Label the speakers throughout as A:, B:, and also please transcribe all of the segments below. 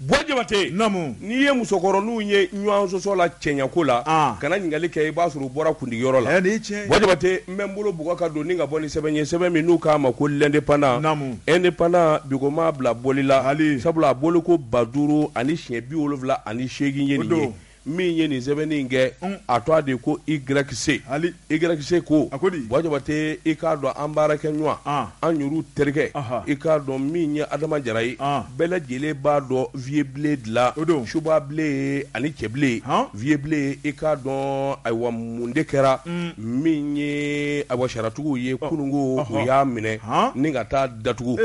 A: Bwajabate n'i
B: ye
A: musokɔrɔninw ye ɲɔgɔn sɔsɔ la cɛɲako la kana ɲininkali kɛ i b'a sɔrɔ u bɔra kundigiyɔrɔ la Bwajabate n bɛ n bolo bugɔ ka don ni ka bɔ ni sɛbɛn ye sɛbɛn min n'u k'a ma ko l'indépendant indépendant bi ko m'a bila bɔli la hali sabula a bɔli ko ba duuru ani siɲɛ bi wolonwula ani seegin ye nin ye min ye nin sɛbɛnni in kɛ a tɔgɔ de ko YC hali YC ko Bwajabate i k'a dɔn an baarakɛɲɔgɔn an yɛrɛ terikɛ i k'a dɔn min ye adama jara ye bɛɛ lajɛlen b'a dɔn Vieux Blen de la o don subabilen ani cɛbilen Vieux Blen i k'a dɔn ayiwa mun de kɛra min ye awa sariyatigiw ye kununko u y'a minɛ ni ka taa datugu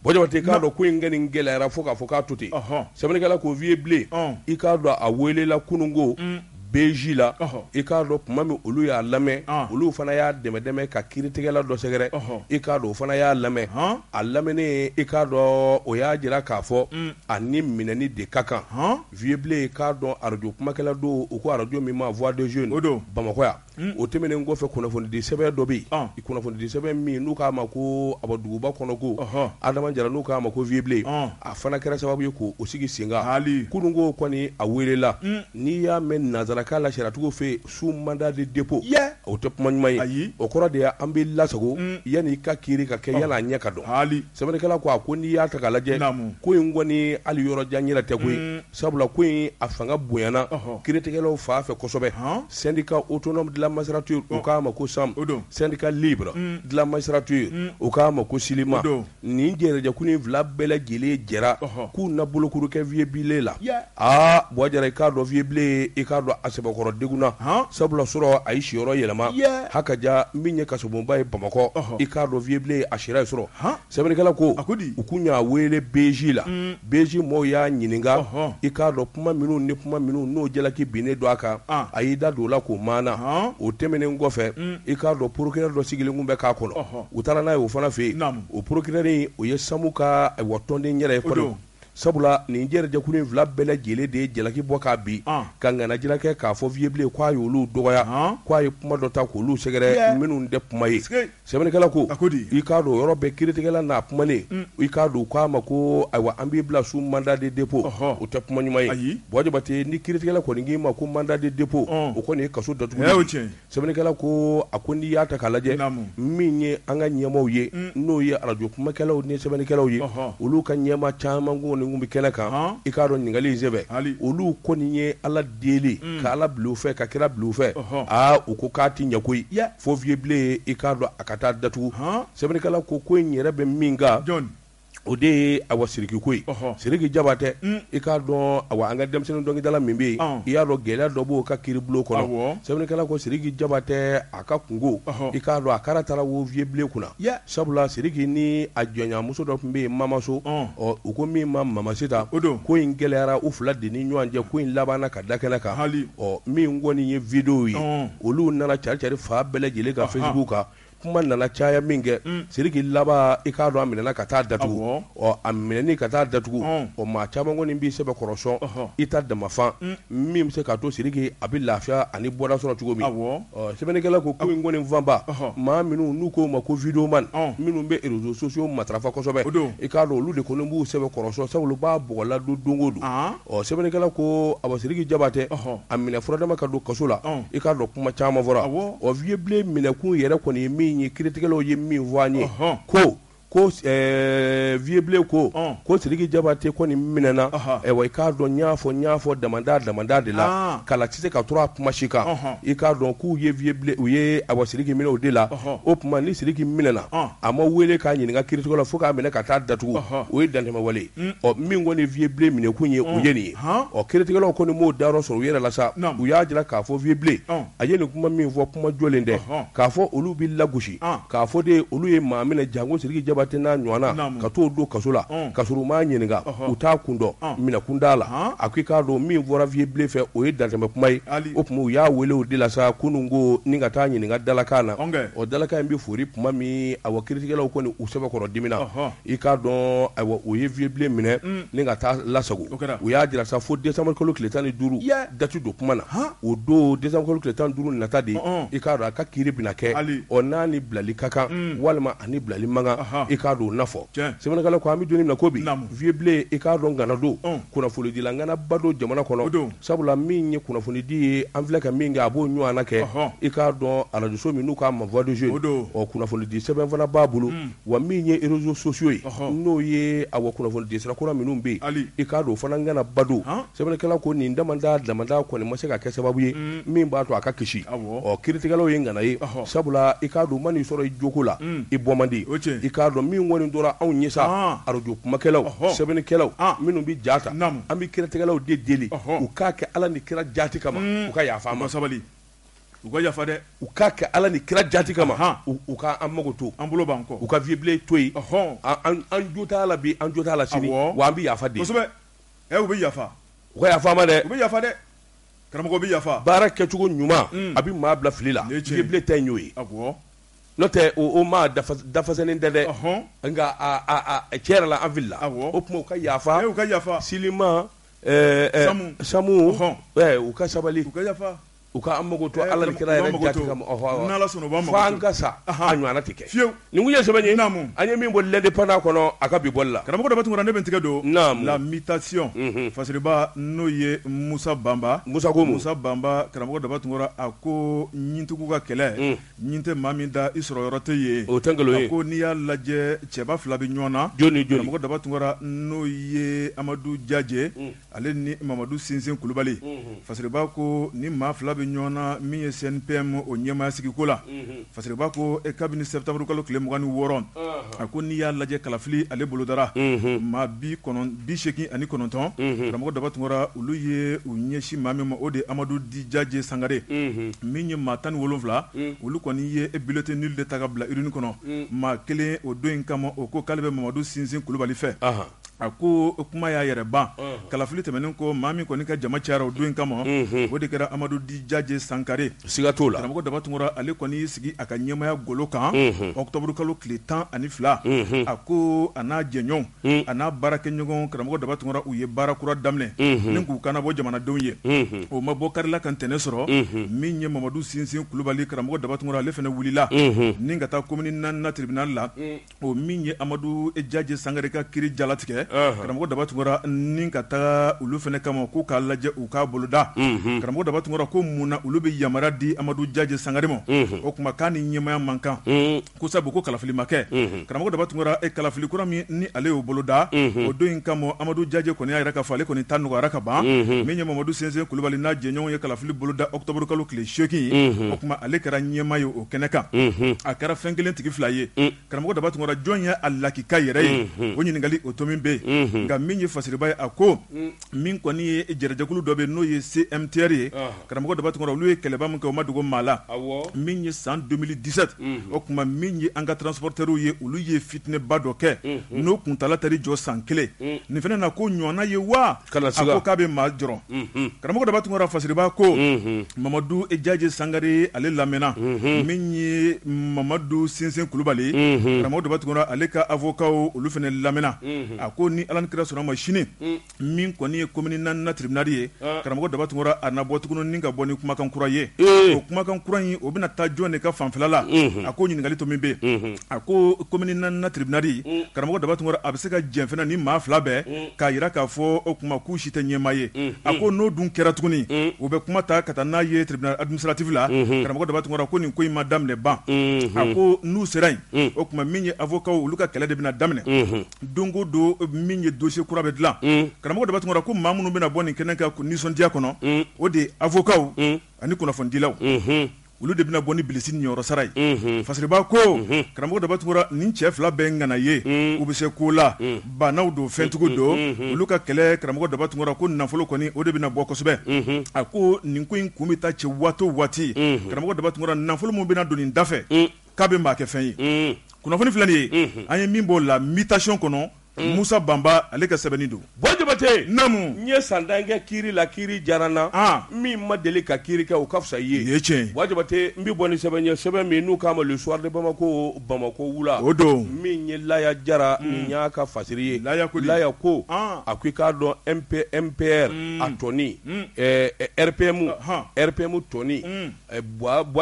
A: Bwajabate i k'a dɔn ko in kɛ nin gɛlɛyara fo k'a fɔ k'a to ten sɛbɛnnikɛla ko Vieux Blen i k'a dɔn a welela kunun ko BJ la i k'a dɔn tuma min olu y'a lamɛn olu fana y'a dɛmɛ dɛmɛ ka kiiritigɛla dɔ sɛgɛrɛ i k'a dɔn o fana y'a lamɛn a lamɛnnen i k'a dɔn o y'a jira k'a fɔ a ni minɛni de ka kan Vieux Blen k'a dɔn arajo kumakɛla don u ko arajo min ma Voix des Jeunes o don Bamakɔ yan o tɛmɛnen kɔfɛ kunnafonidi sɛbɛn dɔ bɛ yen i kunnafonidi sɛbɛn min n'u k'a ma ko abaduguba kɔnɔ ko adama jara n'u k'a ma ko Vieux Blen a fana kɛra sababu ye k' o sigi sen kan hali kununko kɔni a welela n'i y'a mɛn nansarakan la sariyatigiw fɛ yen sous mandat de dépôt o tɛ kuma ɲuman ye ayi o kɔrɔ de y' an b'i lasago yanni i ka kiiri ka kɛ yanni a ɲɛ ka dɔn Sɛbɛnnikɛla ko a ko n'i y'a ta k'a lajɛ naamu ko in kɔni hali yɔrɔ jan yɛrɛ tɛ koyi unn sabula ko in a fanga bonyana ɔhɔ kiiritigɛlaw fan fɛ kosɛbɛ han syndicat autonome de la magistrature ɔ u k'a ma ko sam o don syndicat libre unn de la magistrature unn u k'a ma ko silima o don nin jɛrɛjɛkulu in 2 bɛɛ lajɛlen jɛra ɔhɔ k'u na bolokuru kɛ Vieux Blen la yaa Aa Bwajabate i k'a dɔn Vieux Blen i k'a dɔn a sɛbɛkɔrɔ degunna sabula surɔ a ye siyɔrɔ yɛlɛma ha ka ja min ye kasobonba ye bamakɔ i k'a dɔn Vieux Blen a sira yen surɔ sɛbɛnnikɛla ko u kun y'a wele BJ la BJ maaw y'a ɲininka i k'a dɔn kuma minnu ni kuma minnu n'o jalaki binnen don a kan a y'i da don o la k'o maana o tɛmɛnen kɔfɛ i k'a dɔn procureur dɔ sigilen kun bɛ k'a kɔnɔ u taara n'a ye o fana fɛ yen o procureur in o ye samu ka wa tɔnden yɛrɛ ye Sabula nin jɛrɛjɛkulu in fila bɛɛ lajɛlen de ye jalaki bɔ k'a bin ka ŋanajira kɛ k'a fɔ Vieux Blen k'a ye olu dɔgɔya k'a ye kuma dɔ ta k' olu sɛgɛrɛ minnu tɛ kuma ye sɛbɛnnikɛla ko i k'a dɔn yɔrɔ bɛɛ kiiritigɛla n'a kumanen i k'a dɔn k'a ma ko ayiwa an b'i bila sous mandat de dépôt o tɛ kuma ɲuman ye Bwajabate ni kiiritigɛla kɔni k'i ma ko mandat de dépôt o kɔni ye kaso datugu sɛbɛnnikɛla ko a ko n'i y'a ta k'a lajɛ min ye an ka ɲɛmaaw ye n'o ye arajo kumakɛlaw ni sɛbɛnnikɛlaw ye olu ka ɲɛmaa caman kɔni kun bɛ kɛnɛ kan i k'a dɔn ɲininkali in sen fɛ olu kɔni ye ala deli ka ala bila u fɛ ka kira bila u fɛ aa u ko k'a tɛ ɲɛ koyi fo Vieux Blen i k'a dɔn a ka taa datugu sɛbɛnnikɛla ko ko in yɛrɛ bɛ min o de ye awa siriki ko ye siriki jabatɛ i k'a dɔn awa an ka denmisɛnnin dɔnkilidala min bɛ yen i y'a dɔn gɛlɛya dɔ b'o ka kiribulon kɔnɔ sɛbɛnnikɛla ko siriki jabatɛ a ka kungo i k'a dɔn a kara taara wo vieux blé kunna sabula siriki ni a diyanyemuso dɔ tun bɛ yen mama sow ɔ u ko min ma mamasita o don ko in gɛlɛyara u fila de ni ɲɔgɔn cɛ ko in labanna ka da kɛnɛ kan ɔ min kɔni ye vidéo ye olu nana caricari fan bɛɛ lajɛlen kan facebook kan kuma nana caya min kɛ siriki laban i k'a dɔn a minɛna ka taa datugu a minɛni ka taa datugu ɔ maa caman kɔni b'i sɛbɛkɔrɔ sɔn i ta dama fan min bɛ se k'a to siriki a bɛ lafiya ani bɔda sɔrɔ cogo min sɛbɛnnikɛla ko ko in kɔni fanba maa minnu n'u k'u ma ko vidéoman minnu bɛ réseaux sociaux matarafa kosɛbɛ i k'a dɔn olu de kɔni b'u sɛbɛkɔrɔ sɔn sabula b'a bɔgɔladon don o don ɔ sɛbɛnnikɛla ko awa Sidiki Jabatɛ, ɔhɔ, a minɛ furadama ka don kaso la, ɔn, i k'a dɔn kuma caman fɔra, awɔ, ɔ vieux Bilen minɛkun yɛrɛ kɔni ye min ye kiritigɛlaw ye min fɔ an ye, ɔhɔ, ko ko ɛɛ vieux Bilen ko, ɔn, ko Sidiki Jabatɛ kɔni minɛna, ɔhɔ, ayiwa i k'a dɔn n y'a fɔ n y'a fɔ damanda damanda de la, an, kala tɛ se ka turu a kuma si kan, ɔnhɔn, i k'a dɔn k'u ye vieux Bilen u ye awa Sidiki minɛ o de la, ɔhɔ, o tuma ni Sidiki minɛna, ɔn, a ma wele k'a ɲininka kiritigɛlaw fo k'a minɛ ka taa datugu, ɔhɔ, o ye dantɛmɛwale ye. ɔ min kɔni vieux Blé minɛ kun ye o ye nin ye, ɔnhɔn, ɔ kiritigɛlaw kɔni m'o dayɔrɔ sɔrɔ u yɛrɛ la sa, u y'a jira k'a fɔ vieux Blé a ye nin kuma min fɔ kuma jɔlen tɛ, k'a fɔ olu bɛ lagosi, k'a fɔ de olu ye maa minɛ janko Sidiki Jabate n'a ɲɔgɔnna ka t'o don kaso la ka sɔrɔ u m'a ɲininka u t'a kun dɔn minɛkun t'a la, a ko i k'a dɔn min fɔra vieux Blé fɛ o ye dantɛmɛ kuma ye, o tuma u y'a wele o de la sa kunun ko ni ka taa ɲininka dalakan na, ɔ dalakan in bɛ fori tuma min awɔ kiritigɛlaw kɔni u sɛbɛkɔrɔ diminna, I k'a dɔn ayiwa u ye vieux Blé minɛ ni ka taa lasago u y'a jira sa fo décembre kalo tile tan ni duuru date don kuma na o don décembre kalo tile tan ni duuru nata de i k'a dɔn a ka kiri bɛna kɛ ɔ n'a ni bilali ka kan walima a ni bilali man kan i k'a dɔn o na fɔ sɛbɛnnikɛla ko an bɛ don min na i ko bi vieux Blé i k'a dɔn ŋana don kunnafonidila ŋanaba don jamana kɔnɔ o don Sabula min ye kunnafonidi ye an filɛ ka min kɛ a b'o ɲɔgɔnna kɛ i k'a dɔn arajoso min n'u k'a ma voix des jeunes kunnafonidi sɛbɛn fana b'a bolo wa min ye réseaux sociaux ye n'o ye awa kunnafonidisira kura minnu bɛ yen i k'a dɔn o fana ŋanaba don sɛbɛnnikɛla ko nin damanda damanda kɔni ma se ka kɛ sababu ye min b'a to a ka kisi ɔ kiiritigɛlaw ye ŋana ye sabula i k'a dɔn maa n'i sɔrɔ i joko la i bɔ man di o cɛ i k'a dɔn min kɔni tora anw ɲɛ sa arajo kumakɛlaw sɛbɛnnikɛlaw minnu bɛ ja ta an bɛ kiritigɛlaw de deli u k'a kɛ ala ni kira jati kama u ka yafa ma
B: sabali u ka yafa dɛ u k'a kɛ ala ni kira
A: jati kama u ka an mago to an bolo b'an kɔ u ka vieux
B: blé to
A: yen an jo t'a la bi an jo t'a la sini wa an bɛ yafa deli kosɛbɛ u
B: bɛ yafa u ka yafa ma
A: dɛ u bɛ yafa
B: dɛ karamɔgɔ bɛ yafa baara kɛcogo ɲuman
A: a bɛ maa bila fili la vieux blé ta y'o ye N'o tɛ o maa dafalen tɛ dɛ nka cɛ yɛrɛ la an filila o tuma u ka yafa u ka yafa selima samu u ka sabali u ka an mako to ala ni kira yɛrɛ kama fo an ka sa ɲɔgɔn tɛ kɛ fiyewu nin ye sɛbɛn an ye min bɔ L'Indépendant kɔnɔ a ka bi bɔli la karamɔgɔ daba tun ne bɛ n
B: tigɛ don La Mutation fasiriba n'o ye musa banba musa musa banba karamɔgɔ daba tun a ko ɲintigiw ka kɛlɛ Ɲin tɛ maa min da i sɔrɔ yɔrɔ tɛ yen o tɛ nkalon ye ko n'i
A: y'a
B: lajɛ cɛba fila bɛ ɲɔgɔn na karamɔgɔ daba tunkara n'o ye amadu jajɛ ale ni mamadu sinsin kulubali fasiriba ko ni maa fila bɛ ɲɔgɔn na min ye CNPM o ɲɛmaaya sigiko la fasiriba ko kabini sɛtanburukalo tile mugan ni wɔɔrɔ a ko n'i y'a lajɛ kalafili ale bolodara maa bi seegin ani kɔnɔntɔn karamɔgɔ daba tun olu ye u ɲɛsin maa min ma o de ye amadu dit jajɛ sangare min ye maa tan ni wolowula olu kɔni ye bulletin nul de ta ka bila urne kɔnɔ maa kelen o don in kama o ko k'ale bɛ mamadu sinsin kulubali fɛ A ko kuma y'a yɛrɛ ban kalafili tɛmɛnen ko maa min kɔni ka jama cayara o don in kama o de kɛra amadu dit jajɛ sankare siga t'o la karamɔgɔ daba
A: tun ale kɔni
B: y'i sigi a ka ɲɛmaya golo kan ɔkutɔburukalo tile tan ani fila a ko a n'a jɛɲɔgɔn a n'a baarakɛɲɔgɔn karamɔgɔ daba tun u ye baara kura daminɛ ni k'u kan nabɔ jamanadenw ye o ma bɔ kari la ka tɛnɛ sɔrɔ min ye mamadu sinsin kulubali karamɔgɔ daba tun ale fana wulila ni ka taa commune naaninan tribunal la o min ye amadu jajɛ sangare ka kiiri jalatigɛ karamɔgɔ daba tunra ni ka taa olu fana kama k'u k'a lajɛ u k'a boloda karamɔgɔ daba tunra ko mun na olu bɛ yamaruya di amadu jajɛ sangare ma o tuma k'a ni ɲɛmaya man kan ko sabu ko kalafili ma kɛ karamɔgɔ daba tun e kalafili kura min ni ale y'o boloda o don in kama amadu jajɛ kɔni y'a yira k'a fɔ ale kɔni ta nɔgɔyara ka ban min ye mamadu sinsin kulubali n'a jɛɲɔgɔnw ye kalafili boloda ɔkutɔburukalo tile seegin o tuma ale kɛra ɲɛma ye o kɛnɛ kan a kɛra fɛn kelen tigi fila ye karamɔgɔ daba tun jɔn ye a lakika yɛrɛ ye o ɲininkali o to min bɛ yen nka min ye fasiriba ye a ko min kɔni ye jɛrɛjɛkulu dɔ bɛ n'o ye CMTR ye karamɔgɔ daba tun olu ye kɛlɛba min kɛ o ma dogo maa la min ye san deux mille dix-sept o tuma min ye an ka transporteurw ye olu ye fitinɛba dɔ kɛ n'o kuntaala tari jɔ san kelen nin fana na ko ɲɔgɔnna ye wa k'a bɛ maa jɔrɔ karamɔgɔ daba tun fasiriba ko mamadu jajɛ sangare ale lamɛnna min ye mamadu sinsin kulubali karamɔgɔ daba tun ale ka avocatw olu fana lamɛnna a ko ni ala ni kira sɔnna ma sini min kɔni ye commune naaninan tribunal ye karamɔgɔ daba tun a na bɔ tugun ka bɔ ni kumakan kura ye o kumakan kura in o bɛna taa jɔn de ka fanfɛla la a ko ɲininkali to min bɛ a ko commune naaninan tribunal karamɔgɔ daba tun a bɛ se ka jɛn fana ni maa fila bɛɛ k'a jira k'a fɔ o tuma k'u si tɛ ɲɛmaa ye a ko n'o dun kɛra tuguni u bɛ kuma ta ka taa n'a ye tribunal administratif la karamɔgɔ Daba Tunkara ko nin ko in ma daminɛ ban a ko n'u sera yen o tuma min ye avocats olu ka kɛlɛ de bɛna daminɛ don o don min ye dossier kura bɛ dilan karamɔgɔ Daba Tunkara ko maa minnu bɛna bɔ nin kɛnɛ kan nisɔndiya kɔnɔ o de ye avocatw ani kunnafonidilaw. olu de bɛna bɔ ni bilisi niyɔrɔ sara ye unhun fasiribaa ko unhun karamɔgɔ Daba Tunkara nin cɛ 2 bɛɛ ye ŋana ye uun u be se ko la uun baanaw don fɛntigiw don unhun olu ka kɛlɛ karamɔgɔ Daba Tunkara ko nafolo kɔni o de bɛna bɔ kosɛbɛ unhun a koo nin ko in kun be taa cɛ waati o waati unhun karamɔgɔ Daba Tunkara nafolo min bɛna don nin da fɛ uun k'a be maa kɛ fɛn ye uun kunnafoni filɛ nin ye unhun an ye min bɔ la mutation kɔnɔ Mm. musa banba ale ka sɛbɛnni don buwa
A: jabate namu n
B: ye san tan
A: kɛ kiri la kiri diyara n na ah. min ma deli ka kiri kɛ o ka fisa i ye ye tiɲɛ buwa jabate n bɛ bɔ ni sɛbɛn ye sɛbɛn min n'u k'a ma le soir de bamako bamako wula o don min
B: ye
A: laya jara mm. nin y'a ka fasiri ye laya ko laya ko ah. a ko i k'a dɔn mp mpr mm. a tɔn in rpm rpm tɔn in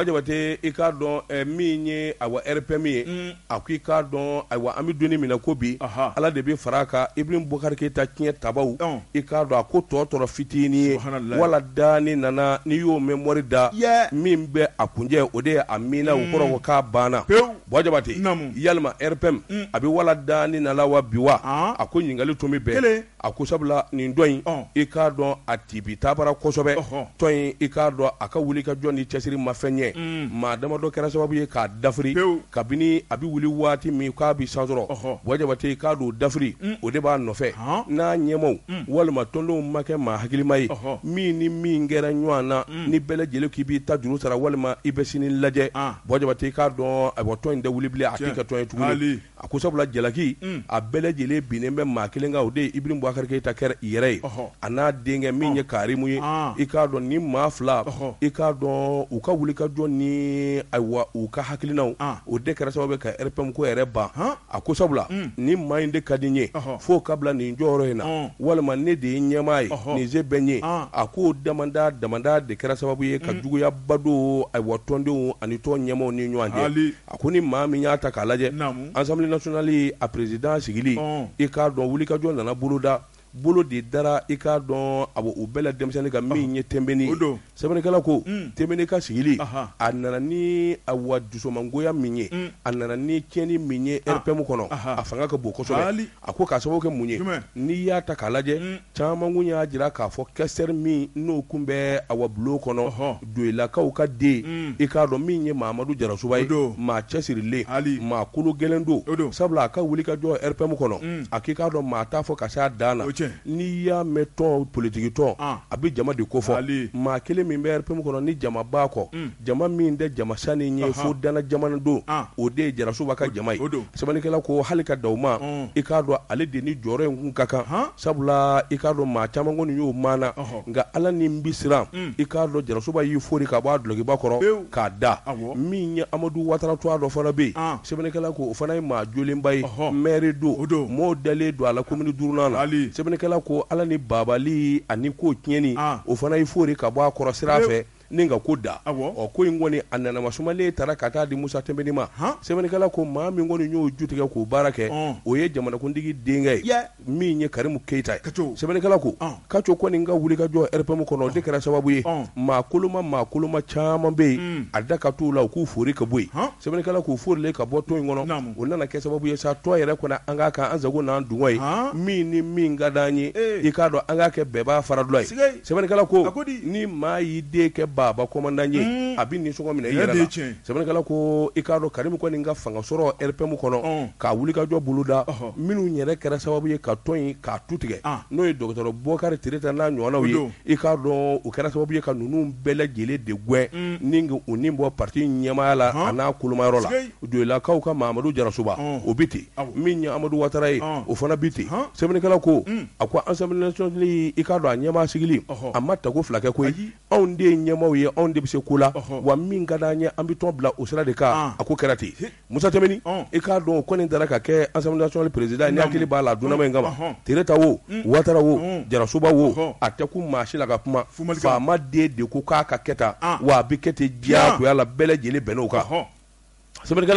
A: Jabate i k'a dɔn min ye awa rpm ye a ko i k'a dɔn ayiwa an bɛ don min na ko bi ala de bɛ fara kan Ibrahim Boubacar Keita tiɲɛ tabaw i k'a dɔn a ko tɔ tora fitinin ye wala daalina na n'i y'o mɛn mori da min bɛ a kuncɛ o de ye amiina o kɔrɔ ko k'a banna buwa jabate yalima rpm a bɛ wala daalina na wa bi wa a ko ɲininkali tun bɛ bɛn A ko sabula nin tɔn in i k'a dɔn a tibitabara kosɛbɛ tɔn in i k'a dɔn a ka wuli ka jɔ ni cɛsiri ma fɛn ɲɛ maa damadɔ kɛra sababu ye k'a dafiri kabini a bɛ wuli waati min k'a bɛ san sɔrɔ buwa jabate i k'a dɔn dafiri o de b'a nɔfɛ n'a ɲɛmaaw walima tɔndenw ma kɛ maa hakilima ye min ni min kɛra ɲɔgɔn na ni bɛɛ lajɛlen k'i b'i ta juru sara walima i bɛ sini lajɛ buwa jabate i k'a dɔn a tɔn in tɛ wuli bilen a tɛ kɛ tɔn ye tugun A ko sabula jalaki a bɛɛ lajɛlen binnen bɛ maa kelen kan o de ye Ibrahim Boubacar Keita yɛrɛ ye a n'a denkɛ min ye karimu ye i k'a dɔn nin maa fila i k'a dɔn u ka wuli ka jɔ ni ayiwa u ka hakilinaw o de kɛra sababu ye ka rpm ko yɛrɛ ban a ko sabula nin maa in de ka di n ye fo k'a bila nin jɔyɔrɔ in na walima ne de ye ɲɛmaa ye nin se bɛ n ye a ko damadama de kɛra sababu ye ka juguyaba don awa tɔndenw ani tɔn ɲɛmaaw ni ɲɔgɔn A ko ni maa min y'a ta k'a lajɛ assemblée nationale a président sigili i k'a dɔn wuli ka jɔ nana boloda bolo de dara i k'a dɔn a o bɛɛ la denmisɛnnin kan min ye Timbiné sɛbɛnnikɛla ko Timbiné ka sigili a nana ni awa dusumangoya min ye a nana ni tiɲɛni min ye rpm kɔnɔ a fanga ka bon kosɛbɛ A ko ka sababu kɛ mun ye n'i y'a ta k'a lajɛ caman kun y'a jira k'a fɔ questeur min n'o kun bɛ a wabulon kɔnɔ Doyilakaw ka den i k'a dɔn min ye Mamadu Jarasuba ye maa cɛsirilen hali maa kolo gɛlɛn don don sabula a ka wulikajɔ RPM kɔnɔ a k'i k'a dɔn maa t'a fɔ ka se a dan la cɛ n'i y'a mɛn tɔn politikitɔn a bɛ jama de ko fɔ maa kelen min bɛ RPM kɔnɔ ni jama b'a kɔ jama min tɛ jama sani ye fo dana jamana don o de ye Jarasuba ka jama ye o don Sɛbɛnnikɛla ko hali ka da o ma, un, i k'a dɔn ale de ni jɔyɔrɔ in kun ka kan, han, sabula i k'a dɔn maa caman kɔni y'o maana, ɔhɔ, nka Ala ni n bɛ siran, un, i k'a dɔn Jarasoba y'i fori ka bɔ a dulokiba kɔrɔ, pewu, k'a da, awɔ, min ye Amadu Watara Tuwa dɔ fana bɛ yen, an, sɛbɛnnikɛla ko o fana ye maa jolenba ye, ɔhɔ, maire don, o don, mɔɔw dalen don a la commune duurunan na, haali, sɛbɛnnikɛla ko Ala ni Babali ani ko tiɲɛni, an, o fana y'i fori ka bɔ a kɔrɔ sira fɛ, pewu. Nka ko da ɔ ko in kɔni a nana masumalen taara ka taa di Musa Tɛnbɛni ma sɛbɛnnikɛla ko maa min kɔni y'o ju tigɛ k'o baara kɛ o ye jamanakuntigi denkɛ ye min ye Karimu Keyita ye sɛbɛnnikɛla ko Kaco kɔni ka wulikajɔ RPM kɔnɔ o de kɛra sababu ye maa koloma maa koloma caman bɛ yen a da ka t'u la u k'u fori ka bɔ sɛbɛnnikɛla k'u forilen ka bɔ tɔn in kɔnɔ o nana kɛ sababu ye sa tɔn yɛrɛ kɔnɔ an k'a kɛ an sago n'an dungɔ ye min ni min ka di an ye i k'a dɔn an k'a kɛ bɛɛ b'a fara dɔ ye Sɛbɛnnikɛla ko, a ko di, ni maa y'i den kɛ baaba kɔmandan ye, un, a bɛ nisɔngɔ minɛ i yɛrɛ la, o ye tiɲɛ ye, sɛbɛnnikɛla ko i k'a dɔn Karimu kɔni ka fanga sɔrɔ RPM kɔnɔ, ɔn, ka wulikajɔ boloda, ɔhɔ, minnu yɛrɛ kɛra sababu ye ka tɔn in k'a tu tigɛ, an, n'o ye Dɔgɔtɔrɔ Bokari Tireta n'a ɲɔgɔnnaw ye, o don, i k'a dɔn o kɛra sababu ye ka ninnu bɛɛ lajɛlen de gɛn, un, ni ka u ni bɔ parti in ɲɛmaaya la, ɔnhɔn, an'a kolomayɔrɔ la, sikei, Doilakaw ka Mahamadu Jarasoba, ɔn, o bɛ ten, awɔ, min ye Amadu Watara ye, ɔn, o fana bɛ ten, han, sɛbɛnnikɛla ko, un. A ko Assemblée nationale i k'a dɔn a ɲɛmaa sigili a ma tako fila kɛ koyi anw de ye ɲɛmaaw ye anw de bɛ se ko la wa min ka di an ye an bɛ tɔn bila o sira de kan a ko kɛra ten Musa Tɛnbɛni i k'a dɔn o kɔni taara ka kɛ Assemblée nationale président n hakili b'a la dunan in kama Tireta wo Watara wo Jarasoba wo a tɛ kun maa si la ka kuma faama den de ko k'a ka kɛ tan wa a bɛ kɛ ten diyagoya la bɛɛ lajɛlen bɛnn'o kan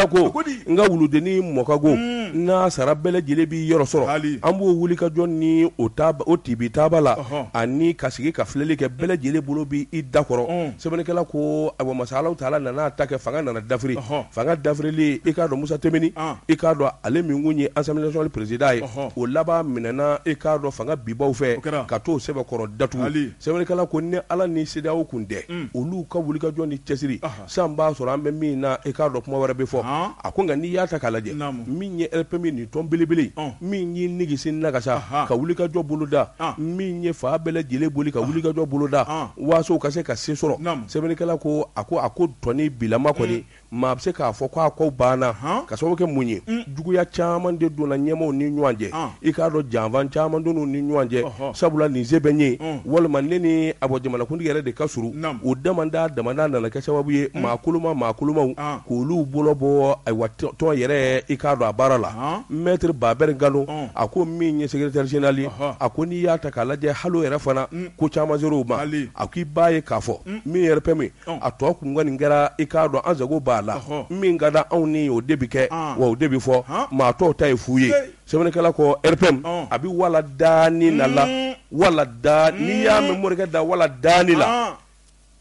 A: ko nka wuludennin mɔ ka go n'a sara bɛɛ lajɛlen b'i yɔrɔ sɔrɔ an b'o wulikajɔ ni o tibitaba la ani ka sigi ka filɛli kɛ bɛɛ lajɛlen bolo bɛ i da kɔrɔ sɛbɛnnikɛla ko ayiwa masa Alahu taala nana a ta kɛ fanga nana dafiri fanga dafirilen i k'a dɔn Musa Tɛnbɛni i k'a dɔn ale min kun ye Assemblée nationale président ye o laban minɛɛna i k'a dɔn fanga bibaw fɛ ka t'o sɛbɛkɔrɔ datugu sɛbɛnnikɛla ko ni Ala ni CEDEAO kun tɛ olu ka wulikajɔ ni cɛsiri Sisan b'a sɔrɔ an bɛ min na i k'a dɔn kuma wɛrɛ bɛ fɔ a ko nka n'i y'a ta k'a lajɛ min ye RPM nin tɔn belebele min ye nigisi nagasa ka wulikajɔ boloda min ye fan bɛɛ lajɛlen boli ka wulikajɔ boloda waaso ka se ka se sɔrɔ sɛbɛnnikɛla ko a ko a ko tɔn in bilama kɔni maa bɛ se k'a fɔ k'a ko banna ka sababu kɛ mun ye juguya caman de donna ɲɛmaaw ni ɲɔgɔn cɛ i k'a dɔn janfa caman donna ni ɲɔgɔn cɛ sabula nin se bɛ ye walima ne ni a bɔ jamanakuntigi yɛrɛ de ka surun o damadama nana kɛ sababu ye maa koloma maa kolomaw k' olu bolo bɔ ayiwa tɔn yɛrɛ i k'a dɔn a baara la maître Baber Gano a ko min ye secrétaire général ye a ko n'i y'a ta k'a lajɛ hali yɛrɛ fana ko caman ser'o ma a ko i b'a ye k'a fɔ min ye RPM a tɔ kun kɔni kɛra i k'a dɔn an sago b'a la min ka di anw ye o de bɛ kɛ wa o de bɛ fɔ maa tɔw ta ye fu ye sɛbɛnnikɛla ko RPM a bɛ waladaalina la wala da n'i y'a mɛn morikɛ da waladaalina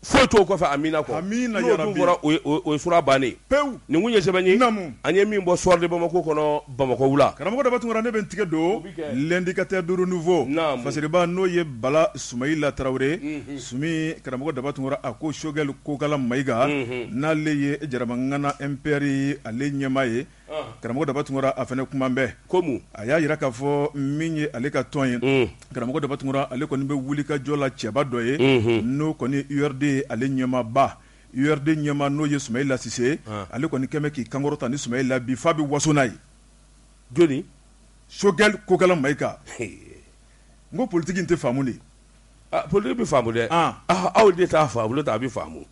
A: foyi t'o kɔfɛ amiina kɔ n'o dun fɔra o ye sura bannen pewu nin kun ye sɛbɛn an ye min bɔ Soir de Bamako kɔnɔ Bamakɔ wula. Karamɔgɔ Daba Tunkara ne bɛ n tigɛ
B: don, o bɛ kɛ, l'indicateur de renouveau, naamu, fasiriba n'o ye Bala Sumayila Tarawele, unhun, Sumi, karamɔgɔ Daba Tunkara a ko Choguel Kokala Mayiga, unhun, n'ale ye Jaramangana MPR ale ɲɛmaa ye, ɔnhɔn, karamɔgɔ Daba Tunkara a fana kuma bɛ, ko mun? a y'a jira k'a fɔ min ye ale ka tɔn ye, un, karamɔgɔ Daba Tunkara ale kɔni bɛ wulikajɔ la cɛba dɔ ye, unhun, n'o kɔni ye URD ale ɲɛmaaba URD ɲɛmaa n'o ye Sumahila Sise ye, an, ale kɔni kɛlen bɛ k'i kankɔrɔta ni Sumahila ye bi f'a bɛ waso n'a ye, joni?
A: Choguel
B: Kokala Mayiga, ee, n ko politique in tɛ faamu de, aa politique
A: bɛ faamu dɛ, an, aa aw de t'a faamu n'o tɛ a bɛ faamu,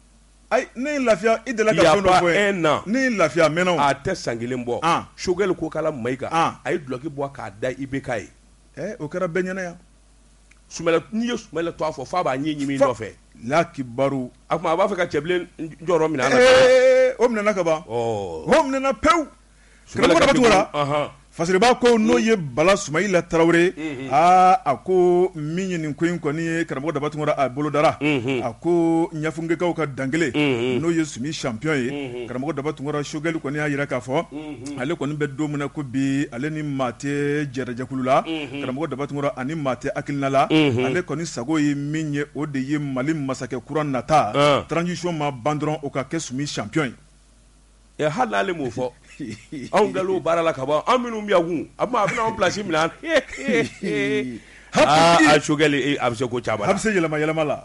A: ayi ne ye n
B: lafiya i delila ka fɛn dɔ fɔ n ye, il y a pas un an, ne ye n lafiya a mɛnna o, a tɛ san kelen bɔ,
A: an, Choguel Kokala Mayiga, an, a ye dulɔki bɔ k'a da IBK ye, ee o kɛra bɛɛ ɲɛna yan n'i ye Sumayila to a fɔ f'a b'a ɲɛ ɲimi nɔfɛ la kibaru
B: a kuma a b'a fɛ
A: ka Cɛbilen jɔyɔrɔ minɛ o
B: minɛna ka ban o minɛna pewu karamɔgɔ Daba Tunkara fasiriba ko n'o ye Bala Sumayila Tarawele aa a ko min ye nin ko in kɔni ye karamɔgɔ Daba Tunkara a bolodara a ko ɲafunkɛkaw ka dankelen n'o ye Sumi champion ye karamɔgɔ Daba Tunkara Choguel kɔni y'a jira k'a fɔ ale kɔni bɛ don min na ko bi ale ni maa tɛ jɛrɛjɛkulu la karamɔgɔ Daba Tunkara ani maa tɛ hakilina la ale kɔni sago ye min ye o de ye mali masakɛ kura nata transition ma ban dɔrɔn o ka kɛ Sumi champion ye
A: hali n'ale m'o fɔ anw bilala o baara la ka ban anw minnu b'a kun a a bɛna an place minɛ a Choguel a bɛ se ko caman a bɛ se yɛlɛma yɛlɛma la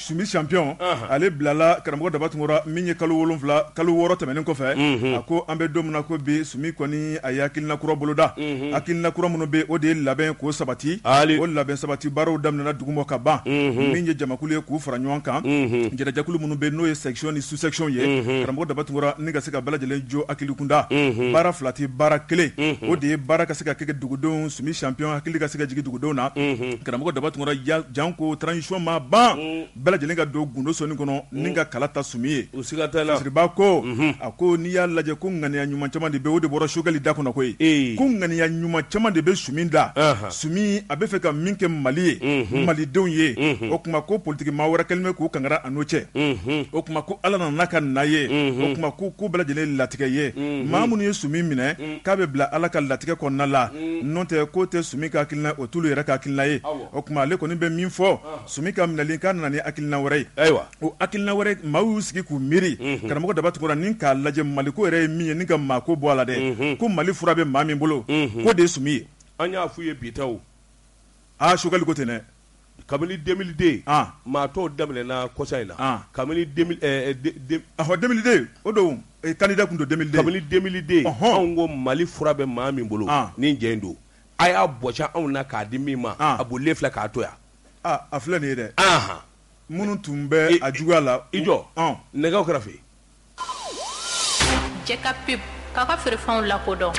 B: Sumi champion ale bilala karamɔgɔ Daba Tunkara min ye kalo wolonwula kalo wɔɔrɔ tɛmɛnen kɔfɛ a ko an bɛ don min na ko bi Sumi kɔni a ye hakilina kura boloda hakilina kura minnu bɛ o de ye labɛn ko sabati hali o labɛn sabati baaraw daminɛna duguma ka ban min ye jamakulu ye k'u fara ɲɔgɔn kan jɛrɛjɛkulu minnu bɛ n'o ye section ni sous-section ye karamɔgɔ Daba Tunkara ni ka se ka bɛɛ lajɛlen jɔ hakili kunda baara fila tɛ baara kelen o de ye baara ka se ka kɛ dugudenw Sumi champion hakili ka se ka dugu O don na karamɔgɔ Daba Tunkara janko transition ma ban bɛɛ lajɛlen ka don gundo sonin kɔnɔ ni ka kala ta Sumi ye Fasiriba ko a ko n'i y'a lajɛ ko ŋaniya ɲuman caman de bɛ o de bɔra Sogɛli da kɔnɔ koyi yen ko ŋaniya ɲuman caman de bɛ Sumi da Sumi a bɛ fɛ ka min kɛ mali ye malidenw ye o tuma ko politiki maa wɛrɛ kɛlen bɛ k'u kangara n'o cɛ o tuma ko ala nana ka na ye o tuma ko ko bɛɛ lajɛlen latigɛ ye mɔgɔ minnu ye Sumi minɛ k'a bɛ bila Ala ka latigɛ kɔnɔna la, un, n'o tɛ k'o tɛ Sumi ka hakilina ye, o t'olu yɛrɛ ka hakilina ye, awɔ, o tuma ale kɔni bɛ min fɔ, ɔn, Sumi ka minɛli k'a nana ni hakilina wɛrɛ ye, ayiwa, o hakilina wɛrɛ maaw y'u sigi k'u miiri, unhun, karamɔgɔ Daba Tunkara n'i k'a lajɛ Maliko yɛrɛ ye min ye ni ka maako bɔ a la dɛ, unhun, ko Mali fura bɛ maa min bolo, unhun, k'o de ye Sumi ye, an y'a f'u ye bi
A: tɛ o, aa Sogɛli
B: ko ten dɛ
A: kabini deux mille deux maa tɔw daminɛna kɔsa in na kabini
B: deux mille deux o don candidat tun don kabini deux mille
A: deux anw ko mali fura bɛ maa min bolo nin cɛ in don a y'a bɔsi anw na k'a di min ma a bolilen filɛ k'a to yan a filɛ nin ye
B: dɛ minnu tun bɛ a juguya la i jɔ
A: nɛgɛ kɛrɛfɛ
C: cɛ ka pep k'a ka feerefɛnw
B: lakodɔn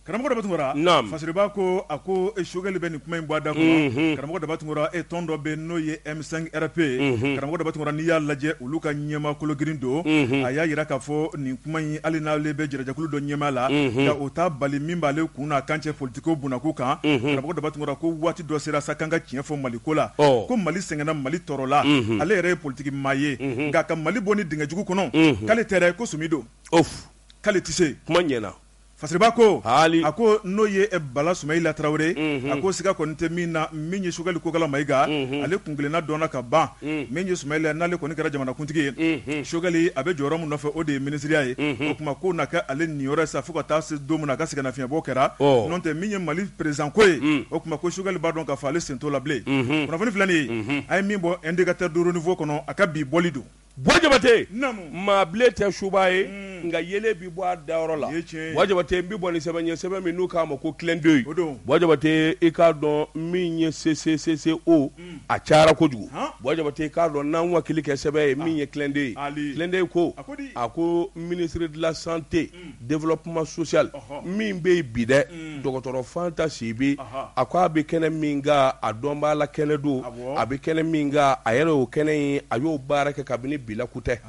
B: karamɔgɔ Daba Tunkara Fasiriba ko a ko Sogɛli bɛ nin kuma in bɔ a da karamɔgɔ Daba Tunkara e tɔn dɔ bɛ n'o ye M5 RFP ye karamɔgɔ Daba Tunkara n'i y'a lajɛ olu ka ɲɛmaa kologirin don a y'a jira k'a fɔ nin kuma in hali n'ale bɛ jɛrɛjɛkulu dɔ ɲɛmaa la o t'a bali min b'ale kun n'a kan cɛ poli ko bunako kan karamɔgɔ Daba Tunkara ko waati dɔ sera sa k'an ka tiɲɛ fɔ mali ko la ko mali sɛgɛnna mali tɔɔrɔla ale yɛrɛ ye politiki maa ye nka ka mali bɔ nin dingɛ jugu kɔnɔ
A: k'ale
B: tɛ dɛ ko Sumi don k'ale
A: tɛ
B: se kuma ɲɛna Fasiriba ko a ko
A: n'o
B: ye Bala Sumayila Tarawele a ko siga kɔni tɛ min na min ye Sogɛli Kokala Mayiga ale kun kelenna dɔnna ka ban min ye Sumayila n'ale kɔni kɛra jamanakuntigi ye Sogɛli a bɛ jɔyɔrɔ min nɔfɛ o de ye minisiriya ye o tuma k'o na kɛ ale niyɔrɔ ye sa fo ka taa se don min na a ka sɛgɛnnafiɲɛbɔ kɛra n'o tɛ min ye mali peresidanko ye o tuma ko Sogɛli b'a dɔn k'a fɔ ale sen t'o la bilen kunnafoni filɛ nin ye an ye min bɔ Indicateur du Renouveau kɔnɔ a ka bi bɔli don Bɔ
A: Jabate maa bilen tɛ suba ye nka yeelen bɛ bɔ a dayɔrɔ la Bɔ Jabate bɛ bɔ ni sɛbɛn ye sɛbɛn min n'u k'a ma ko Clin d'œil o don Bɔ Jabate i k'a dɔn min ye sese o a cayara kojugu Bɔ Jabate i k'a dɔn n'an wakili kɛ sɛbɛn ye min ye Clin d'œil ye Clin d'œil ko a ko ministre de la santé développement social min bɛ yen bi dɛ dɔgɔtɔrɔ Fanta Sibi a ko a bɛ kɛnɛ min kan a dɔn b'a la kɛnɛ don a bɛ kɛnɛ min kan a yɛrɛ o kɛnɛ in a y'o baara kɛ kabini bila kutɛ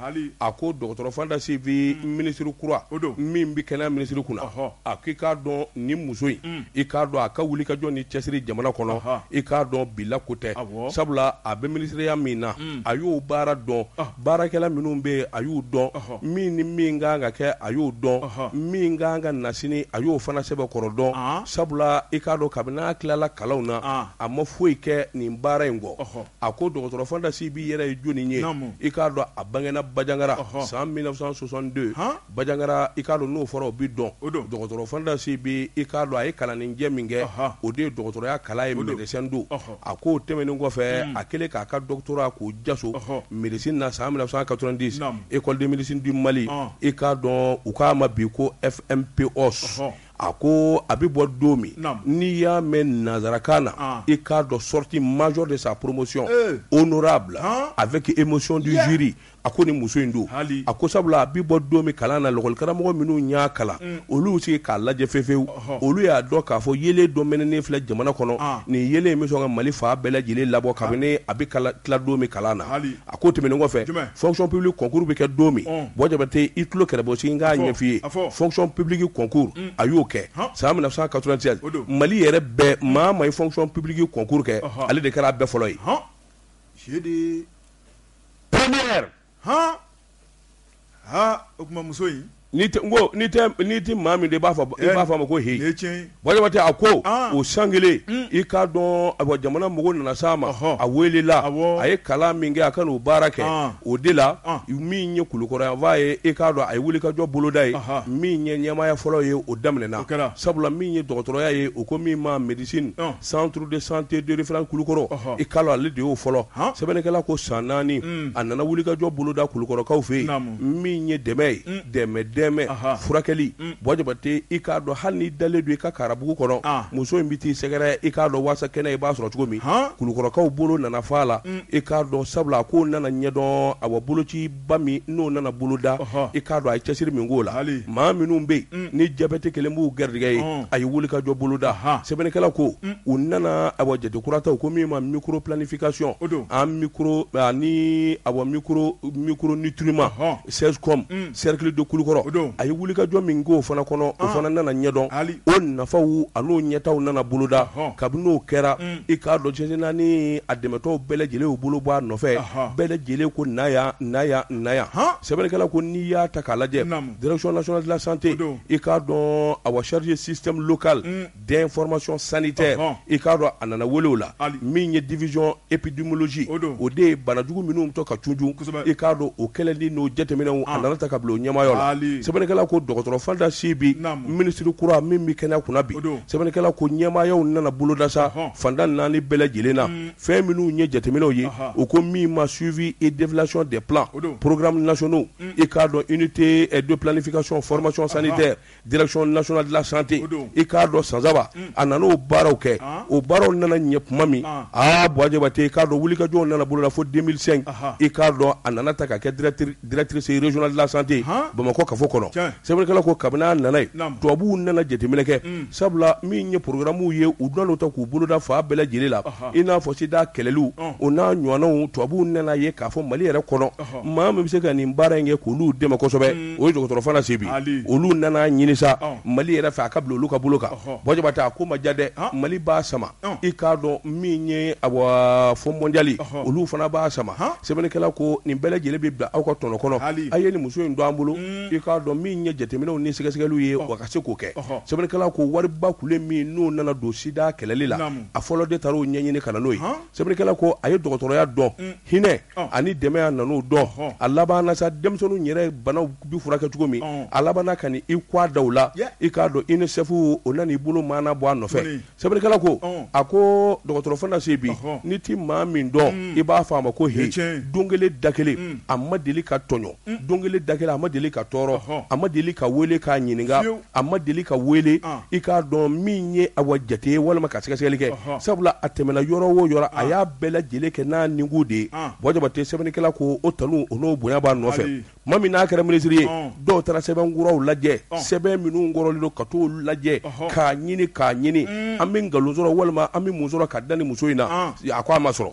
A: a ko dɔgɔtɔrɔ Fanta Sibi minisiri kura min bɛ kɛnɛya ministère kunna a ko i k'a dɔn nin muso in i k'a dɔn a ka wuli ka jɔ ni cɛsiri jamana kɔnɔ i k'a dɔn bila ko tɛ sabula a bɛ minisiriya min na a y'o baara dɔn baarakɛla minnu bɛ yen a y'u dɔn min ni min kan ka kɛ a y'o dɔn min kan ka na sini a y'o fana sɛbɛkɔrɔ dɔn sabula i k'a dɔn kabini n'a tilala kalanw na a ma foyi kɛ nin baara in kɔ a ko dɔgɔtɔrɔ fanta sibi yɛrɛ ye jɔni ye i k'a dɔn a bangena bajangara san 1962 Bajangara i k'a dɔn n'o fɔra o bɛ dɔn, o don, dɔgɔtɔrɔ Fanta Sibi i k'a dɔn a ye kalanninjɛ min kɛ, ɔhɔ, o de ye dɔgɔtɔrɔya kalan ye médecin don, ɔhɔ, a k'o tɛmɛnen kɔfɛ a kɛlen k'a ka doctorat k'o jaso médecine na san 1990, naamu, École de médecine du Mali i k'a dɔn u k'a ma bi ko FMPOS, ɔhɔ, a ko a bɛ bɔ don min, naamu, n'i y'a mɛn nansarakan na, an, i k'a dɔn sortie major de sa promotion, ee, honorable, han, avec émotion du jury a ko ni muso in don a ko sabula a bi bɔ don min kalan na lakɔli karamɔgɔ minnu y'a kalan mm. olu sigi k'a lajɛ fefewu olu y'a dɔn k'a fɔ yelen dɔ mɛnɛnen filɛ jamana kɔnɔ ah. nin yelen in bɛ sɔn ka mali fan bɛɛ lajɛlen labɔ kabini ah. a bɛ tila don min kalan na a ko tɛmɛnen kɔfɛ fonction publique concours bɛ kɛ don min oh. buwa jabate i tulo kɛrɛbɔ sigi k'a ɲɛf'i ye fonction publique concours mm. a y'o kɛ san 1996 mali yɛrɛ bɛɛ maa ma ye fonction publique concours kɛ ale de kɛra a bɛɛ fɔlɔ ye
B: o tuma muso in
A: nin tɛ maa min de i b'a fɔ a ma ko heyi buwa jabate a ko o san kelen i k'a dɔn a jamana mɔgɔw nana sa a ma a welela a ye kalan min kɛ a ka n'o baara kɛ o de la min ye kulukɔrɔ yanfan ye i k'a dɔn a ye wulikajɔ boloda ye min ye ɲɛmaya fɔlɔ ye o daminɛna sabula min ye dɔgɔtɔrɔya ye o ko min ma médecin centre de santé de référence Kulukɔrɔ, ɔhɔ, i k'a dɔn ale de y'o fɔlɔ, han, sɛbɛnnikɛla ko san naani, un, a nana wulikajɔ boloda Kulukɔrɔkaw fɛ yen, naamu, min ye dɛmɛ ye, un, dɛmɛ dɛmɛ, aha, furakɛli, un, Buwa Jabate i k'a dɔn hali n'i dalen don i ka karabugu kɔnɔ, an, muso in bɛ t'i sɛgɛrɛ i k'a dɔn waasa kɛnɛya i b'a sɔrɔ cogo min, han, Kulukɔrɔkaw bolo nana f'a la, un, i k'a dɔn sabula a ko nana ɲɛdɔn awa boloci ba min n'o nana boloda i k'a dɔn a ye cɛsiri min k'o la maa minnu bɛ yen ni jabɛti kɛlen b'u garijɛgɛ ye a ye wulikajɔ boloda sɛbɛnnikɛla ko u nana a jate kura ta u ko min ma microplanification ani micronutriment CSCOM cercle de kulukɔrɔ a ye wulikajɔ min k'o fana kɔnɔ o fana nana ɲɛdɔn o nafaw an'o ɲɛtaaw nana boloda kabini n'o kɛra i k'a dɔn cɛsin naani a dɛmɛtɔ bɛɛ lajɛlen bolo bɔ a nɔfɛ bɛɛ lajɛlen ko sɛbɛnnikɛla ko n'i y'a ta k'a lajɛ dsonasola sante i k'a dɔn a wasari sisiteka den fmasɔn sani tɛ i k'a dɔn a nana weele la min ye dizy epdsi o de ye banajugu minnu tɔ ka tuju i k'a dɔn o kɛlɛli n'o jateminɛw a nana ta ka bila o ɲɛmaaya la sɛbɛnnikɛla ko dɔgɔtɔrɔ Fanta Sibi minisiri kura min bɛ kɛnɛya kunna bi sɛbɛnnikɛla ko ɲɛmaayaw nana boloda sa fanda naani bɛɛ lajɛlen na fɛn minnu ye jateminɛw ye u ko min ma suivi et évaluation des plans programmes nationaux i k'a dɔn unité de planification formation sanitaire direction nationale de la santé o don, i k'a dɔn san saba, un, a nana o baaraw kɛ, an, o baaraw nana ɲɛ tuma min, an, aa Buwa Jabate i k'a dɔn wulikajɔw nana boloda fo 2005, anhan, i k'a dɔn a nana ta ka kɛ directrice directrice régionale de la santé han, Bamakɔ kafo kɔnɔ, tiɲɛ, sɛbɛnnikɛla ko kabini a nana yen, naamu, tubabuw nana jateminɛ kɛ, un, sabula min ye programmes ye u nana o ta k'u boloda fan bɛɛ lajɛlen la, ɔhɔ, i n'a fɔ sida kɛlɛliw, ɔn, o n'a ɲɔgɔnnaw tubabuw nana ye k'a fɔ Mali yɛrɛ kɔnɔ, ɔhɔ, maa min bɛ se ka nin baara in kɛ k'olu dɛmɛ kosɛbɛ o ye dɔgɔtɔrɔ Fanta Sibi ye, Ali, olu nana ɲini sa Mali yɛrɛ fɛ a ka bila olu ka bolo kan, ɔhɔ, Buwa Jabate a ko ma diya dɛ, han, Mali b'a sama, ɔn, i k'a dɔn min ye awa Fonds mondial ye, ɔhɔ, olu fana b'a sama, han, sɛbɛnnikɛla ko nin bɛɛ lajɛlen bɛ bila aw ka tɔnɔ kɔnɔ, Ali, a ye nin muso in don an bolo, un, i k'a dɔn min ye jateminɛw ni sɛgɛsɛgɛliw ye a ka se k'o kɛ, ɔhɔ, sɛbɛnnikɛla ko wariba kulu min n'o nana don sida kɛlɛli la, naamu, a fɔlɔ de taar'o ɲɛɲinin ka na n'o ye, han Sɛbɛnnikɛla ko a ye dɔgɔtɔrɔya dɔn hinɛ ani dɛmɛ a nan'o dɔn a labanna sa denmisɛnninw yɛrɛ banaw bi furakɛ cogo min a labanna ka n'i kɔ a da la i k'a dɔn UNICEF o nan'i bolo mana bɔ a nɔfɛ sɛbɛnnikɛla ko a ko dɔgɔtɔrɔ Fanta Sibi n'i tɛ maa min dɔn i b'a fɔ a ma ko he don kelen da kelen a ma deli ka tɔɲɔ don kelen da kelen a ma deli ka tɔɔrɔ a ma deli ka weele k'a ɲininka a ma deli ka weele ah. i k'a dɔn min ye awa jate ye walima ka sɛgɛsɛgɛli kɛ sabula a tɛmɛna yɔrɔ o yɔrɔ a ah. y'a bɛɛ lajɛlen kɛ n'a ninku de ye ah. Buwa Jabate sɛbɛnnikɛla ko o tanu o n'o bonya b'a nɔfɛ tuma min n'a kɛra minisiri ye dɔw taara sɛbɛn kɔrɔw lajɛ sɛbɛn minnu kɔrɔlen don ka t'o lajɛ k'a ɲini k'a ɲini mm. an bɛ nkalon sɔrɔ walima an bɛ mun sɔrɔ ka da ni muso in na a ko a ma sɔrɔ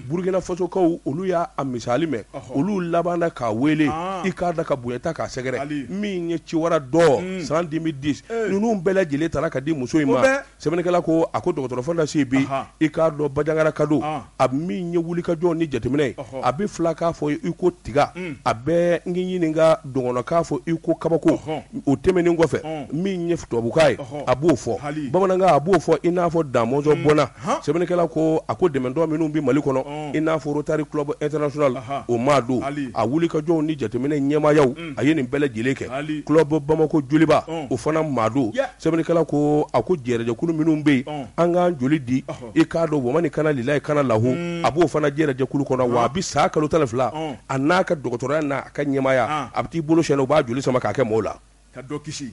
A: Burukina Fasokaw olu y'a misali mɛn olu labanna k'a weele i k'a dɔn ka bonya ta k'a sɛgɛrɛ min ye Ciwara d'or san 2010 ninnu bɛɛ lajɛlen taara ka di muso in ma sɛbɛnnikɛla ko a ko dɔgɔtɔrɔ Fanta Sibi i k'a dɔn Bajangaraka don a min ye wulikajɔ ni jateminɛ ye a bɛ filakan fɔ i ko tiga a bɛ n ɲininka dɔgɔnɔkan fɔ i ko kabako o tɛmɛnen kɔfɛ min ye tubabukan ye a b'o fɔ bamanankan a b'o fɔ i n'a fɔ Da Mɔnzɔn bɔnna sɛbɛnnikɛla ko a ko dɛmɛtɔn minnu bɛ mali kɔnɔ i n'a fɔ Rotary Club International o maa don a wulikajɔw ni jateminɛ ɲɛmaayaw a ye nin bɛɛ lajɛlen kɛ Club bamakɔ joliba o fana maa don sɛbɛnnikɛla ko a ko jɛrɛjɛkulu minnu bɛ yen an k'an joli di i k'a dɔn wa mani kana lilahi kana lahu a b'o fana jɛrɛjɛkulu kɔnɔ wa a bɛ san kalo tan fila a n'a ka dɔgɔtɔrɔya n'a ka ɲɛmaaya a bɛ t'i bolo sɛnɛ u b'a joli sama k'a kɛ maaw la ka dɔ kisi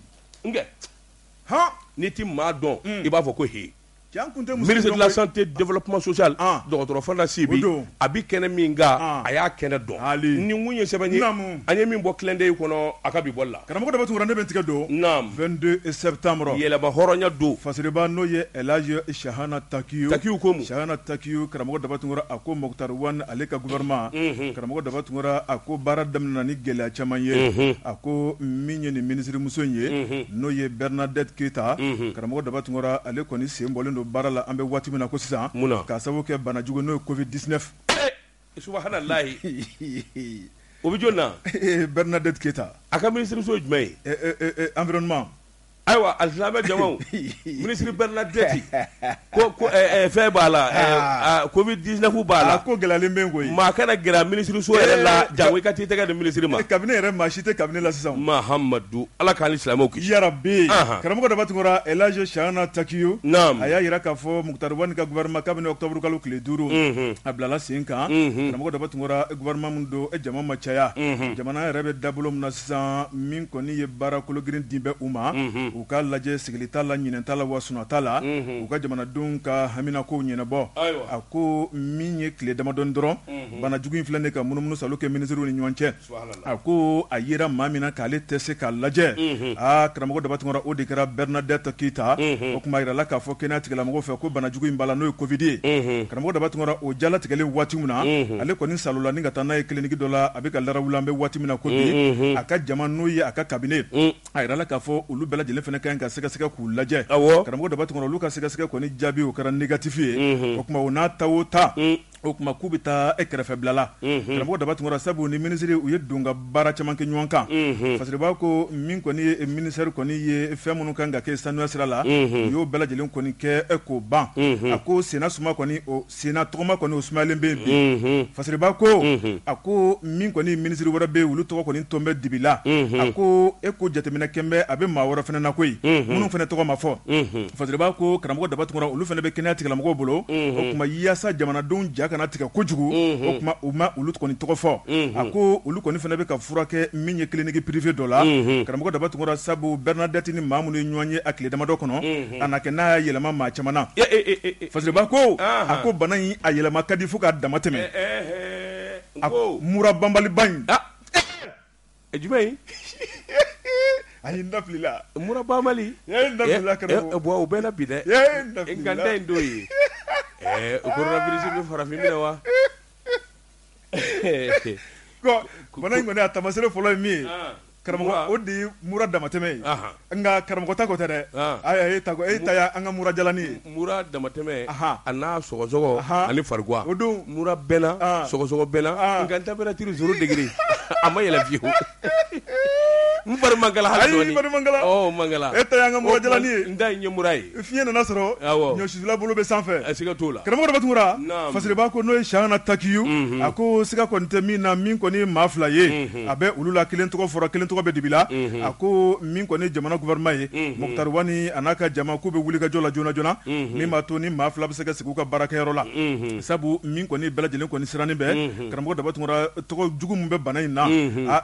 A: n'i tɛ maa dɔn i b'a fɔ ko h Minisante dɔrɔnlasibi a bɛ kɛnɛ min a y'a kɛnɛ dɔn nikun ye sɛbɛn an ye min bɔ kɛlɛden kɔnɔ a ka bɔ la karamɔgɔ tora ne bɛ tigɛ
B: don yɛlɛmaya don
A: fa n'o ye
B: sihana taki taki taki
A: karamɔgɔ
B: daba tunkara a ko mota ale ka gma karamɔgɔ daba tunkara a ko baara daminɛmin ni gɛlɛya caman ye a ko min ye nin minisiririmuso in ye n'o ye bɛrnadti keyita Karamɔgɔ Daba Tunkara ale kɔni sen bɔlen don baara la an bɛ waati min na ko sisan, mun na? k'a sababu kɛ bana jugu n'o ye covid 19 ee subahana
A: layi o bɛ jɔni na? ee Bɛrnadɛti Keyita,
B: a ka minisiriso ye jumɛn
A: ye? ee ee environnement ayiwa alisilamɛ jamaw minisiri Bɛrnadɛti ko ko ɛɛ fɛn b'a la ɛɛ covid 19 b'a la, a ko gɛlɛyalen bɛ yen koyi, maa
B: kana gɛrɛ a minisiriso
A: yɛrɛ la janko i ka t'i tɛgɛ di minisiri ma, cabinet yɛrɛ maa si tɛ
B: cabinet la sisan, Mahamadu
A: Ala k'an ni silamɛw kisi yarabi anhan
B: karamɔgɔ Daba Tunkara El Hadj Shahana Takiyu naam a y'a yira k'a fɔ Mukutari Wan ka gouvernement kabini octobre kalo tile 5 unhun a bilala sen kan unhun karamɔgɔ Daba Tunkara gouvernement min don o jama ma caya unhun jamana yɛrɛ bɛ dabolo min na sisan min kɔni ye baara kologirin dilen bɛ u ma unhun u k'a lajɛ sigili t'a la ɲinɛ t'a la wa sunɔ t'a la unhun u ka jamanadenw ka haminakow ɲɛnɛbɔ ayiwa a ko min ye tile damadɔni dɔrɔn unhun bana jugu in filɛ nin ye ka munumunu salo kɛ ministrew ni ɲɔgɔn cɛ A ko a yera maa min na k'ale tɛ se k'a lajɛ aa karamɔgɔ daba tunkara o de kɛra bɛrnadɛti keyita o kuma jirala k'a fɔ kɛnɛya tigilamɔgɔw fɛ ko banajugu in b'a la n'o ye kofidi ye karamɔgɔ daba tunkara o jalatigɛlen waati min na ale kɔni sa la ni ka taa n'a ye kiliniki dɔ la a bɛ ka la an bɛ waati min na ko bi a ka jama n'o ye a ka cabinet a jirala k'a fɔ olu bɛɛ lajɛlen fana kan ka sɛgɛsɛgɛ k'u lajɛ karamɔgɔ daba tunkara olu ka sɛgɛsɛgɛ kɔni jaabi o kɛra negatifi ye o kuma o n'a ta o ta o kuma k'u bɛ taa e kɛrɛfɛ bilala karamɔgɔ daba tunkara sabu ni minisiri u ye don ka baara caman kɛ ɲɔgɔn kan fasiriba ko min kɔni ye ministɛri kɔni ye fɛn minnu kan ka kɛ sanuya sira la u y'o bɛɛ lajɛlen kɔni kɛ e k'o ban a ko senna suma kɔni o senna tɔgɔma kɔni o sumayalen bɛ bi fasiriba ko a ko min kɔni minisiri wɛrɛ bɛ olu tɔgɔ kɔni tolen bɛ dibi la a ko e ko jateminɛ kɛlen bɛ a bɛ maa wɛrɛ fana na koyi minnu fana tɔgɔ ma fɔ Fasiriba ko karamɔgɔ Daba Tunkara olu fana bɛ kɛnɛya tigilamɔgɔw bolo o tuma yaasa jamanadenw ja kana tigɛ kojugu o tuma u ma olu kɔni tɔgɔ fɔ a ko olu kɔni fana bɛ ka furakɛ min ye clinique privée dɔ la karamɔgɔ Daba Tunkara sabu Bernadette ni maa minnu ye ɲɔgɔn ye a tile damadɔ kɔnɔ a na kɛ n'a y'a yɛlɛma maa caman na Fasiriba ko a ko bana in a yɛlɛma ka di fo k'a damatɛmɛ a ko mura banbaliba in
A: ɛ jumɛn
B: in a ye n da fili la mura banbali
A: n ye n da fili la kɛnɛ
B: ko bon o bɛɛ la bi dɛ n ye
A: n da fili la nkanta
B: in don ye
A: ɛɛ o coronavirus bɛ farafin minɛ
B: wa bana in kɔni a tamasere fɔlɔ ye min ye karamɔgɔ o de ye mura damatɛmɛ ye. Nka karamɔgɔ ta ko tɛ dɛ e ta e ta an kaurujalain ye muru damatɛmɛ
A: a n'a sɔsɔ ani fari o don muru bɛɛla sɔsɔ bɛɛla nka daɛrɛ turu suru degeg a ma yɛlɛ bi n fari man man e an ka mɔ ye n da ɲɛmuru ye Fiɲɛ nana sɔrɔ ɲɔsusula bolo bɛ sanfɛ siga t'o la karamɔgɔ Daba Tunkara Fasiriba ko n'o ye Chahana Takiou a ko siga kɔni tɛ min na min kɔni maa fila ye a bɛ olu la kelen tɔgɔ fɔra kelen tɔgɔ bɛ dibi la a ko min kɔni jamana gouvernement ye Mukutari Wani n'a ka jama k'u bɛ wuli ka jɔ la joona joona min b'a to ni maa fila bɛ se ka sigi u ka baarakɛyɔrɔ la sabu min kɔni bɛɛ lajɛlen kɔni sirannen bɛ karamɔgɔ Daba Tunkara tɔgɔ jugu min bɛ bana in na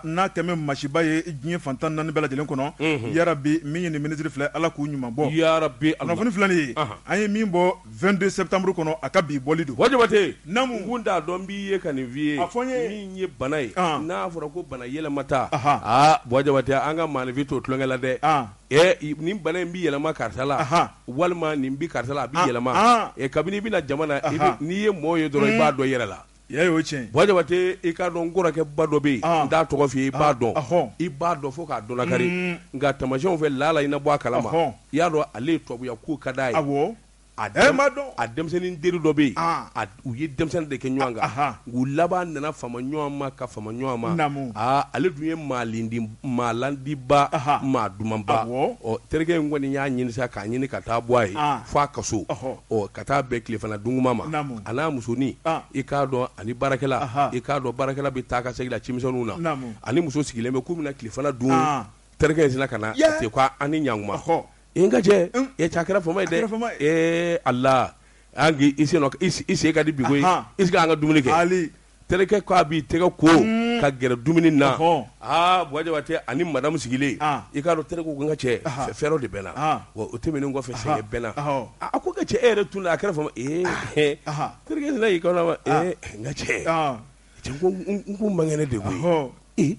A: n'a kɛlen bɛ masiba ye diɲɛ fan tan ni naani bɛɛ lajɛlen kɔnɔ yarabi min ye nin minisiri filɛ ala k'u ɲuman bɔ yarabi kunnafoni filɛ nin ye an ye min bɔ vingt-deux septembre kɔnɔ a ka bi bɔli don Buwa Jabate naamu n t'a dɔn b'i ye ka nin f'i ye a fɔ n ye min ye bana ye n'a fɔra ko bana yɛlɛma taa aa Buwa Jabate an ka maaninfin to tulonkɛ la dɛ ɛ ni bana in bɛ yɛlɛma karisa la walima nin bɛ karisa la a bɛ yɛlɛma ɛ kabini i bɛ na jama na n'i ye mɔgɔ ye dɔrɔn i b'a dɔn yɛrɛ la Ya ye o ye tiɲɛ ye. Buwa Jabate i k'a dɔn n kɔrɔkɛba dɔ bɛ yen, n t'a tɔgɔ fɔ i ye, i b'a dɔn, i b'a dɔn fo k'a dɔnnakari, unhun, nka tamasiyɛnw fɛ laala i na bɔ a kalama, ɔhɔ, i y'a dɔn ale ye tubabuya ko ka d'a ye, awɔ, a denmisɛnnin teri dɔ bɛ yen, a u ye denmisɛnnin de kɛ ɲɔgɔn kan, u laban nana fama ɲɔgɔn ma ka fama ɲɔgɔn ma, naamu, aa ale dun ye maa landi maa landiba, anhan, maa dumanba, awɔ, ɔ terikɛ in kɔni y'a ɲinin sa k'a ɲinin ka taa bɔ a ye, an, f'a ka so, ɔhɔ, ɔ ka taa bɛn tilefana duntuma ma, naamu, a n'a musonin, an, i k'a dɔn ani baarakɛla, anhan, i k'a dɔn baarakɛla bɛ taa ka segin la cimisɛniw na, naamu, ani muso sigilen bɛ k'u bɛna tilefana dun, an, terikɛ in sina ka na, yɛɛ, a fɔ ko a ni ɲantuma, ɔhɔ, ee n ka cɛ, un, ee cɛ a kɛra fama ye dɛ, a kɛra fama ye, ee Ala, an k'i i sen nɔ i sen ka di bi koyi, anhan, i sigi an ka dumuni kɛ, aali terikɛ ko a b'i tɛgɛ ko ka gɛrɛ dumuni na Buwa Jabate ani madamu sigilen i k'a dɔn terikɛ ko n ka cɛ fièvre de bɛ n na wa o tɛmɛnen kɔfɛ sɛgɛn bɛ n na a ko n ka cɛ e yɛrɛ tununna a kɛra fama terikɛ y'i kanto a ma n ka cɛ n ko n man kɛnɛ de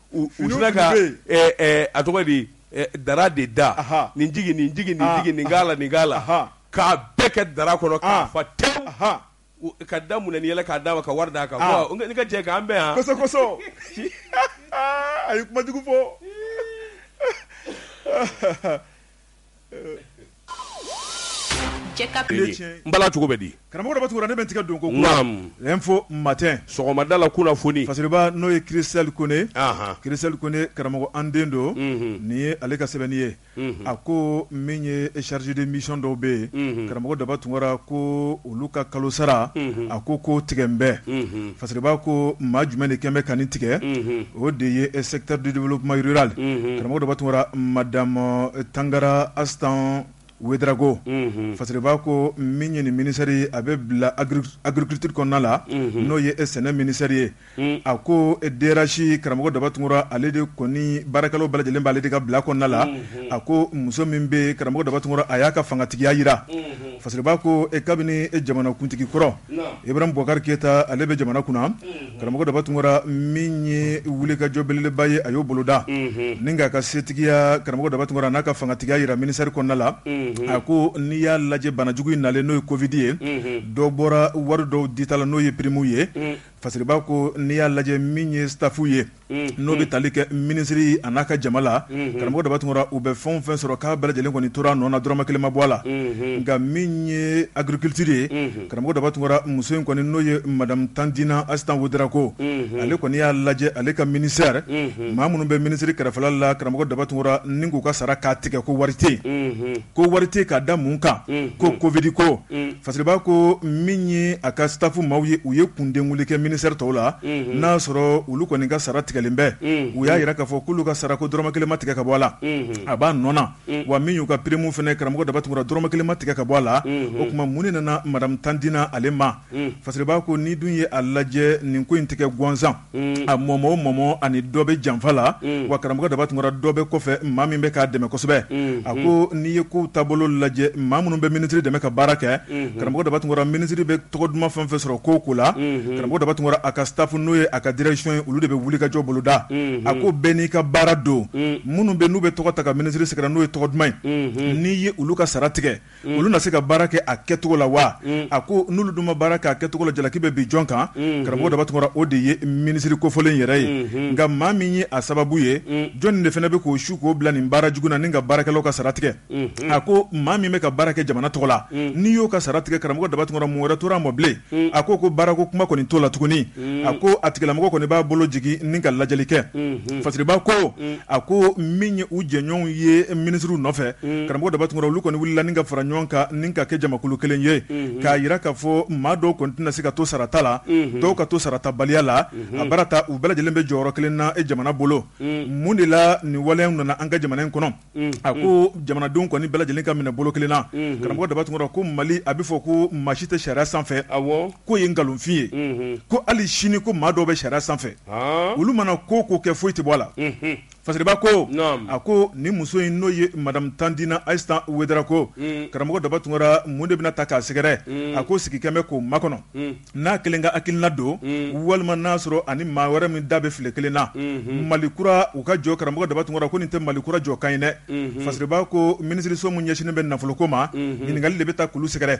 A: u Finiw sina ka tun bɛ ɛ, ɛ, a tɔgɔ ye di ɛ, dara de da Ahan. nin jigin nin jigin nin Ah, jigin nin k'a la nin k'a la Ahan. k'a bɛɛ kɛ dara kɔnɔ k'a Ah. fa tewu Ahan. U- ka da munɛ ni yɛlɛ k'a d'a ma ka wari d'a kan Ah. Ko, ne ka jɛ k'an bɛn yan kosɛbɛ kosɛbɛ a ye kuma jugu fɔ Cogo bɛ di karamɔgɔ daba tunkara ne bɛ tigɛ don ko Info Matin sɔgɔmada la kunnafoni fasiriba n'o ye Christelle Kone Christelle Kone karamɔgɔ an den don nin ye ale ka sɛbɛnni ye a ko min ye chargé de mission dɔw bɛ yen karamɔgɔ daba tunkara ko olu ka kalo sara a ko ko tigɛ n bɛɛ parce que b'a ko maa jumɛn de kɛmɛ bɛ ka tigɛ o de ye sɛdudukuma jirali karamɔgɔ dɔ tun mada tangara asan wdrako parce que b'a ko min ɲini minisari a bɛ bila agrikitiriri kɔnɔna la n'o ye e sɛnɛ minisari ye a ko DRH karamɔgɔ daba tunkara ale de kɔni baarakɛlaw bɛɛ lajɛlen b'ale de ka bila kɔnɔna la a ko muso min bɛ karamɔgɔ daba tunkara a y'a ka fangatigiya jira fasiriba ko kabini jamanakuntigi kɔrɔ ibrahim bubakari keyita ale bɛ jamana kunna karamɔgɔ daba tunkara min ye wulikajɔ belebeleba ye a y'o boloda ni k'a ka setigiya karamɔgɔ daba tunkara n'a ka fangatigiya jira ministère kɔnɔna la a ko n'i y'a lajɛ banajugu in nalen n'o ye Covid ye dɔ bɔra wari dɔw dita la n'o ye primes ye Fasiriba ko n'i y'a lajɛ min ye staffw ye n'o bɛ tali kɛ minisiri a n'a ka jama la karamɔgɔ daba tunkara u bɛ fɛn fɛn sɔrɔ k'a bɛɛ lajɛlen kɔni tora nɔ na dɔrɔmɛ kelen ma bɔ a la nka min ye agriculture ye karamɔgɔ daba tunkara muso in kɔni n'o ye madamu tandina asitan wedrago ale kɔni y'a lajɛ ale ka ministère maa minnu bɛ minisiri kɛrɛfɛla la karamɔgɔ daba tunkara ni k'u ka sara k'a tigɛ ko wari tɛ ko wari tɛ k'a da mun kan ko Covid ko fasiriba ko min ye a ka staff maaw ye u ye kundenwuli kɛ ministère
B: tɔw la n'a sɔrɔ olu kɔni ka sara tigɛlen bɛ u y'a yira k'a fɔ k'olu ka sara ko dɔrɔmɛ kelen ma tigɛ ka bɔ a la a b'a nɔ na wa min y'u ka prime fɛnɛ karamɔgɔ daba tunkara dɔrɔmɛ kelen ma tigɛ ka bɔ a la o tuma mun de nana madamu tandina ale ma fasiriba ko ni dun ye a lajɛ nin ko in tigɛ gansan a mɔ o mɔ ani dɔ bɛ janfa la wa karamɔgɔ daba tunkara dɔ bɛ kɔfɛ maa min bɛ k'a dɛmɛ kosɛbɛ a ko n'i ye kow taabolo lajɛ maa minnu bɛ minisiri dɛmɛ ka baara kɛ karamɔgɔ daba tunkara minisiri bɛ tɔgɔ duman fɛn fɛn sɔrɔ ko ko la karamɔgɔ daba tunkara a ka staff n'o ye a ka direction ye olu de bɛ wulikajɔ boloda a ko bɛɛ n'i ka baara don minnu bɛ n'u bɛ tɔgɔ ta ka minisiri sɛgɛrɛ n'o ye tɔgɔ duman ye n'i ye olu ka sara tigɛ olu na se ka baara kɛ a kɛcogo la wa a ko n'olu dun ma baara kɛ a kɛcogo la jalaki bɛ bin jɔn kan karamɔgɔ daba tunkara o de ye minisiri kofɔlen yɛrɛ ye nka maa min ye a sababu ye jɔnni de fana bɛ k'o su k'o bila nin baara jugu na ni ka baarakɛlaw ka sara tigɛ a ko maa min bɛ ka baara kɛ jamana tɔgɔ la n'i y'o ka sara tigɛ karamɔgɔ daba tunkara mun wɛrɛ tora mɔ bilen a ko ko baarako kuma kɔni t'o la tuguni a ko a tigilamɔgɔ kɔni b'a bolo jigin ni ka lajɛli kɛ fasiriba ko a ko min ye u jɛɲɔgɔnw ye minisiriw nɔfɛ karamɔgɔ daba tunkara olu kɔni wulila ni ka fara ɲɔgɔn kan ni ka kɛ jamakulu kelen ye k'a yira k'a fɔ maa dɔw kɔni tɛna se ka to sarata la dɔw ka to sarata baliya la a baara ta u bɛɛ lajɛlen bɛ jɔyɔrɔ kelen na jamana bolo mun de la nin waleyaw nana an ka jamana in kɔnɔ a ko jamanadenw kɔni bɛɛ lajɛlen ka minɛ bolo kelen na karamɔgɔ daba tunkara ko mali a bɛ fɔ ko maa si tɛ sariya sanfɛ k'o ye nkalonfin ye ko hali sini ko maa dɔw bɛ sariya sanfɛ olu mana ko o ko kɛ foyi tɛ bɔ a la fasiriba ko a ko nin muso in n'o ye madame tandina aïssata ouédraogo karamɔgɔ daba tunkara mun de bɛna ta k'a sɛgɛrɛ a ko sigikɛ bɛ k'o makɔnɔ n'a kelen ka hakilina don walima n'a sɔrɔ ani maa wɛrɛ min da bɛ file kelen na mali kura u ka jɔ karamɔgɔ daba tunkara ko nin tɛ mali kura jɔ kan ye dɛ fasiriba ko minisiriso min ɲɛsinnen bɛ nafoloko ma ɲininkali de bɛ taa k'olu sɛgɛrɛ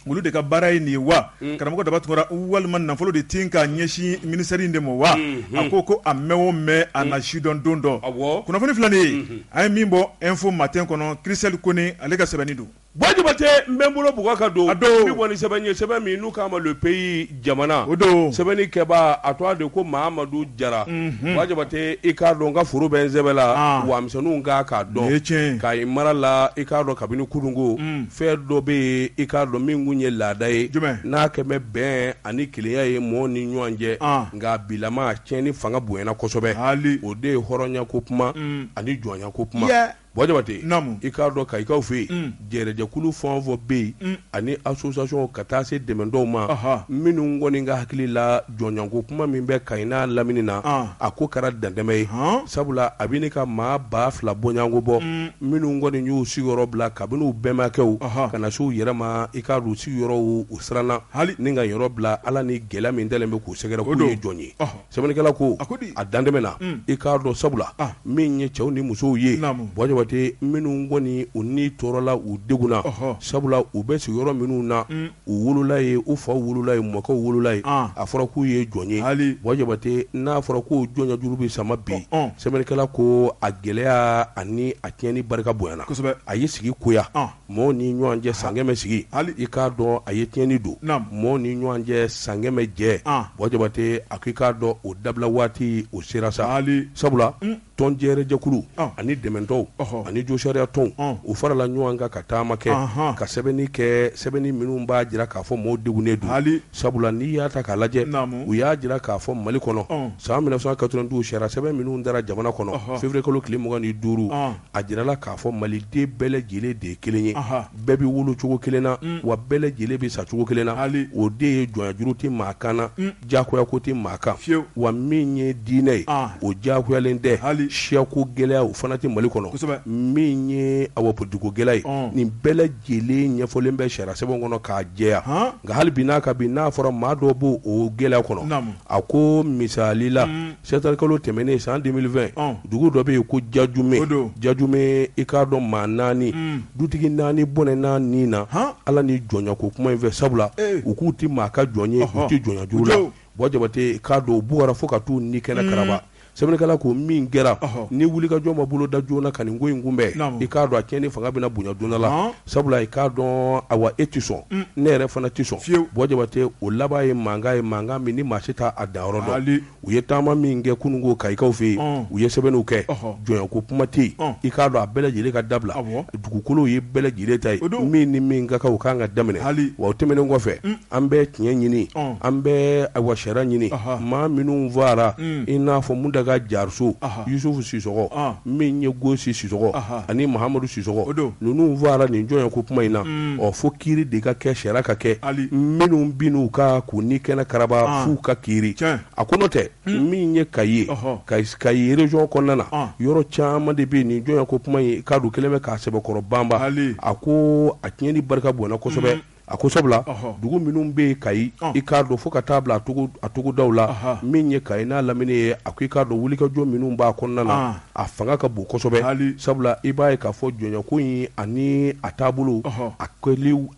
B: olu de ka baara ye nin ye wa karamɔgɔ daba tunkara walima nafolo de tɛ ka ɲɛsin ministère in de ma wa a ko ko a mɛn o mɛn a na sidɔn don dɔ kunnafoni filanan an ye min bɔ info matin kɔnɔ christelle kone ale ka sɛbɛnni don Buwa jabate n
A: bɛ n bolo bugɔ ka don min kɔni sɛbɛn ye sɛbɛn min n'u k'a ma le pays jamana o don sɛbɛnnikɛba
B: a
A: tɔgɔ de ko mahamadu jara buwa jabate i k'a dɔn n ka foro bɛ n sɛbɛ la wamisɛnw ka i k'a dɔn kayi mara la i k'a dɔn kabini kununko fɛn dɔ bɛ yen i k'a dɔn min kun ye laada ye n'a kɛlen bɛ bɛn ani kelenya ye mɔgɔ ni ɲɔgɔn cɛ nka bilama tiɲɛni fanga bonyana kosɛbɛ o de ye hɔrɔnya ko kuma ani jɔnya ko kuma Buwa jabate i k'a dɔn kayikaw fɛ yen jɛrɛjɛkulu fɛn o fɛn bɛ yen ani association ka taa se dɛmɛtɔnw ma minnu kɔni ka hakili la jɔnyako kuma min bɛ kayi n'a lamini na a ko kɛra dantɛmɛ ye sabula a bɛ ɲini ka maa ba fila bɔɲɔgɔnko bɔ minnu kɔni y'u sigiyɔrɔ bila kabini u bɛnbakɛw ka na se u yɛrɛ ma i k'a dɔn sigiyɔrɔw u siranna hali ni ka yɔrɔ bila ala ni gɛlɛya min taalen bɛ k'u sɛgɛrɛ k'u ye jɔn ye Sɛbɛnnikɛla ko a ko di a dantɛmɛna unn i k'a dɔn sabula anh min ye cɛw ni musow ye naamu buwa Jabate minnu kɔni u ni tɔɔrɔla u degunna ɔhɔɔ sabula u bɛ sigiyɔrɔ minnu na unnn u wolola yen u faw wolola yen u mɔkɛw wolola yen ɔɔn a fɔra k'u ye jɔn ye haali buwa Jabate n'a fɔra ko jɔnyajuru bɛ sama bi ɔ ɔɔn sɛbɛnnikɛla ko a gɛlɛya ani a tiɲɛni barika bonyana kosɛbɛ a ye sigi goya ɔɔn mɔgɔ ni ɲɔgɔn cɛ san kɛmɛ sigi hali i k'a dɔn a ye tiɲɛni don mɔgɔ ni ɲɔgɔn cɛ san kɛmɛ jɛ buwa jabate a ko i k'a dɔn o dabila waati o sera sa hali sabula tɔn jɛrɛjɛkulu ani dɛmɛtɔnw ani josariya tɔnw u farala ɲɔgɔn kan ka taama kɛ ka sɛbɛnni kɛ sɛbɛnni minnu b'a jira k'a fɔ maaw degunnen don hali sabula n'i y'a ta k'a lajɛ u y'a jira k'a fɔ mali kɔnɔ san mille neuf cent quatre-vingt-douze sariya sɛbɛn minnu tara jamana kɔnɔ février kalo tile mugan ni duuru a jirala k'a fɔ maliden bɛɛ lajɛlen de ye kelen ye bɛɛ bɛ wolo cogo kelen na wa bɛɛ lajɛlen bɛ sa cogo kelen na hali o de ye jɔnya juru tɛ maa kan na jagoya ko tɛ maa kan wa min ye diinɛ ye o jagoyalen tɛ hali siyako gɛlɛya o fana tɛ mali kɔnɔ min ye awa politiko gɛlɛya ye nin bɛɛ lajɛlen ɲɛfɔlen bɛ sariya sɛbɛn kɔnɔ k'a jɛya nka hali bi n'a ka bi n'a fɔra maa dɔ b' o gɛlɛya kɔnɔ a ko misali la Sɛtanburu kalo tɛmɛnen san deux mille vingt dugu dɔ bɛ yen ko jajume jajume i k'a dɔn maa naani dutigi naani bɔnɛna ni na ala nin jɔnya ko kuma in fɛ sabula u k'u tɛ maa ka jɔn ye u tɛ jɔnya juru la buwa jabate k'a dɔn u bugɔra fo ka t'u ni kɛnɛ karaba sɛbɛnnikɛla ko min kɛra ni wulikajɔ ma boloda joona ka nin ko in kunbɛn i k'a dɔn a tiɲɛni fanga bɛna bonya diɲɛ la Sabula i k'a dɔn awa e tɛ sɔn ne yɛrɛ fana tɛ sɔn fiye buwa jabate o laban ye mankan ye mankan min ni maa si t' a danyɔrɔ dɔn u ye taama min kɛ kununko kayikaw fɛ yen u ye sɛbɛnniw kɛ jɔnya ko kuma tɛ yen i k'a dɔn a bɛɛ lajɛlen ka dabila dugukolo ye bɛɛ lajɛlen ta ye o don min ni min ka kan o ka kan ka daminɛ hali wa o tɛmɛnen kɔfɛ an bɛ tiɲɛ ɲini an bɛ awa sariya ɲini maa minnu fagara i n'a fɔ muntaga jariso yusufu sisɔkɔ min ye gosi sisɔkɔ ani mahamadu sisɔkɔ ninnu fagara nin jɔnya ko kuma in na ɔ fo kiiri de ka kɛ sariya ka kɛ minnu binna u kan k'u ni kɛnɛ karaba f'u ka kiiri a ko n'o tɛ min ye kayi ye kayi région kɔnɔna na yɔrɔ caman de bɛ nin jɔnya ko kuma in ka don kɛlen bɛ k'a sɛbɛkɔrɔ banban a ko a tiɲɛni barika bonyana kosɛbɛ A ko sabula dugu minnu bɛ yen kayi i k'a dɔn fo ka taa bila a togodaw la min ye kayi n'a lamini ye a ko i k'a dɔn wulikajɔ minnu b'a kɔnɔna na a fanga ka bon kosɛbɛ sabula i b'a ye k'a fɔ jɔnyako in ani a taabolo a a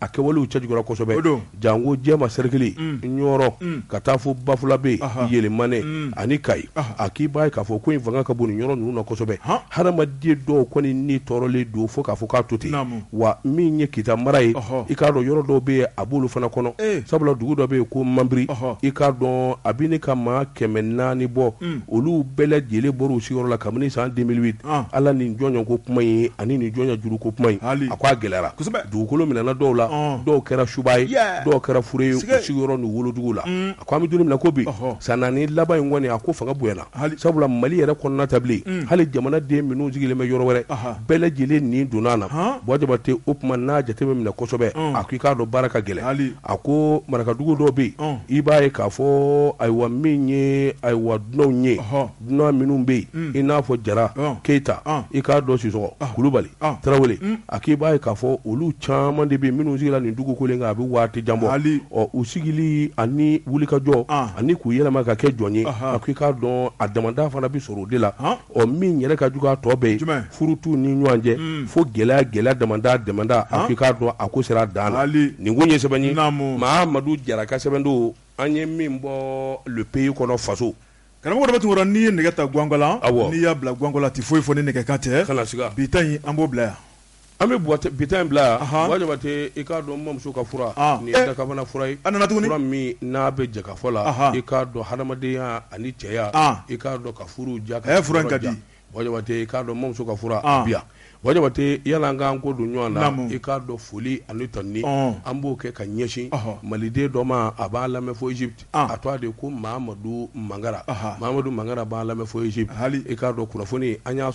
A: kɛwalew cɛjuguyara kosɛbɛ don janko jɛma sɛrikili ɲɔrɔ ka taa fo bafulabe yelimane ani kayi a k'i b'a ye k'a fɔ ko in fanga ka bon nin yɔrɔ ninnu na kosɛbɛ hadamaden dɔw kɔni ni tɔɔrɔlen don fo k'a fɔ k'a to ten wa min ye kita mara ye i k'a dɔn yɔrɔ dɔw bɛ yen a b'olu fana kɔnɔ sabula dugu dɔ bɛ yen ko manbiri i k'a dɔn a bɛ ɲini ka maa kɛmɛ naani bɔ olu bɛɛ lajɛlen bɔra u sigiyɔrɔ la kabini san deux mille huit ala nin jɔnya ko kuma in ani nin jɔnya juru ko kuma in a ko a gɛlɛyara dugukolo minɛna dɔw la dɔw kɛra suba ye dɔw kɛra fure ye u sigiyɔrɔ ni wolodugu la Ko an bɛ don min na ko bi, ɔhɔ, san naani laban in kɔni a ko fanga bonyana, hali, sabula Mali yɛrɛ kɔnɔna tɛ bilen, un, hali jamana den minnu sigilen bɛ yɔrɔ wɛrɛ, anhan, bɛɛ lajɛlen nin donna a la, han, Buwa Jabate o tuma n'a jate bɛ minɛ kosɛbɛ, un, a ko i k'a dɔn baara ka gɛlɛn, hali, a ko marakadugu dɔw bɛ yen, un, i b'a ye k'a fɔ ayiwa min ye ayiwa dunanw ye, ɔhɔ Dunan minnu bɛ yen i n'a fɔ jara keyita i k'a dɔn sisɔkɔ kulubali tarawele a k'i b'a ye k'a fɔ olu caman de bɛ minnu sigira nin dugukolo kan a bɛ waati jan bɔ u sigili ani wulikajɔ ani k'u yɛlɛma ka kɛ jɔn ye a k'i k'a dɔn a damadɔ fana bɛ sɔrɔ o de la ɔ min yɛrɛ ka jugu a tɔ bɛɛ ye furu t'u ni ɲɔgɔn cɛ fo gɛlɛya gɛlɛya damadɔ damadɔ a k'i k'a dɔn a ko sera dan nin ko ye sɛbɛnni mahamadu jara ka sɛbɛn don an ye min bɔ le pays kɔnɔ faso Karamɔgɔ dɔ bɛ
B: tun n'i ye nɛgɛ ta gwangwala n'i y'a bila gwangwala tɛ foyi fɔ ni nɛgɛkan tɛ bi ta in an
A: b'o bila
B: yan an bɛ
A: bi ta in bila yan jabate i k'a dɔn mamuso ka fura tuguni
B: min n'a
A: bɛ jɛkafɔ la i k'a dɔn hadamadenya ani cɛya i k'a dɔn ka furu diya ka di
B: Jabate i k'a
A: dɔn mamuso ka fura bɛ yan bɔ jabate yala an k'an ko don ɲɔgɔn na i k'a dɔn foli ani tanuni an b'o kɛ ka ɲɛsin maliden dɔ ma a b'a lamɛn fo Egypte a tɔgɔ de ko mamadu mangara mamadu mangara b'a lamɛn fo Egypte i k'a dɔn kunnafoni an y'a sɔrɔ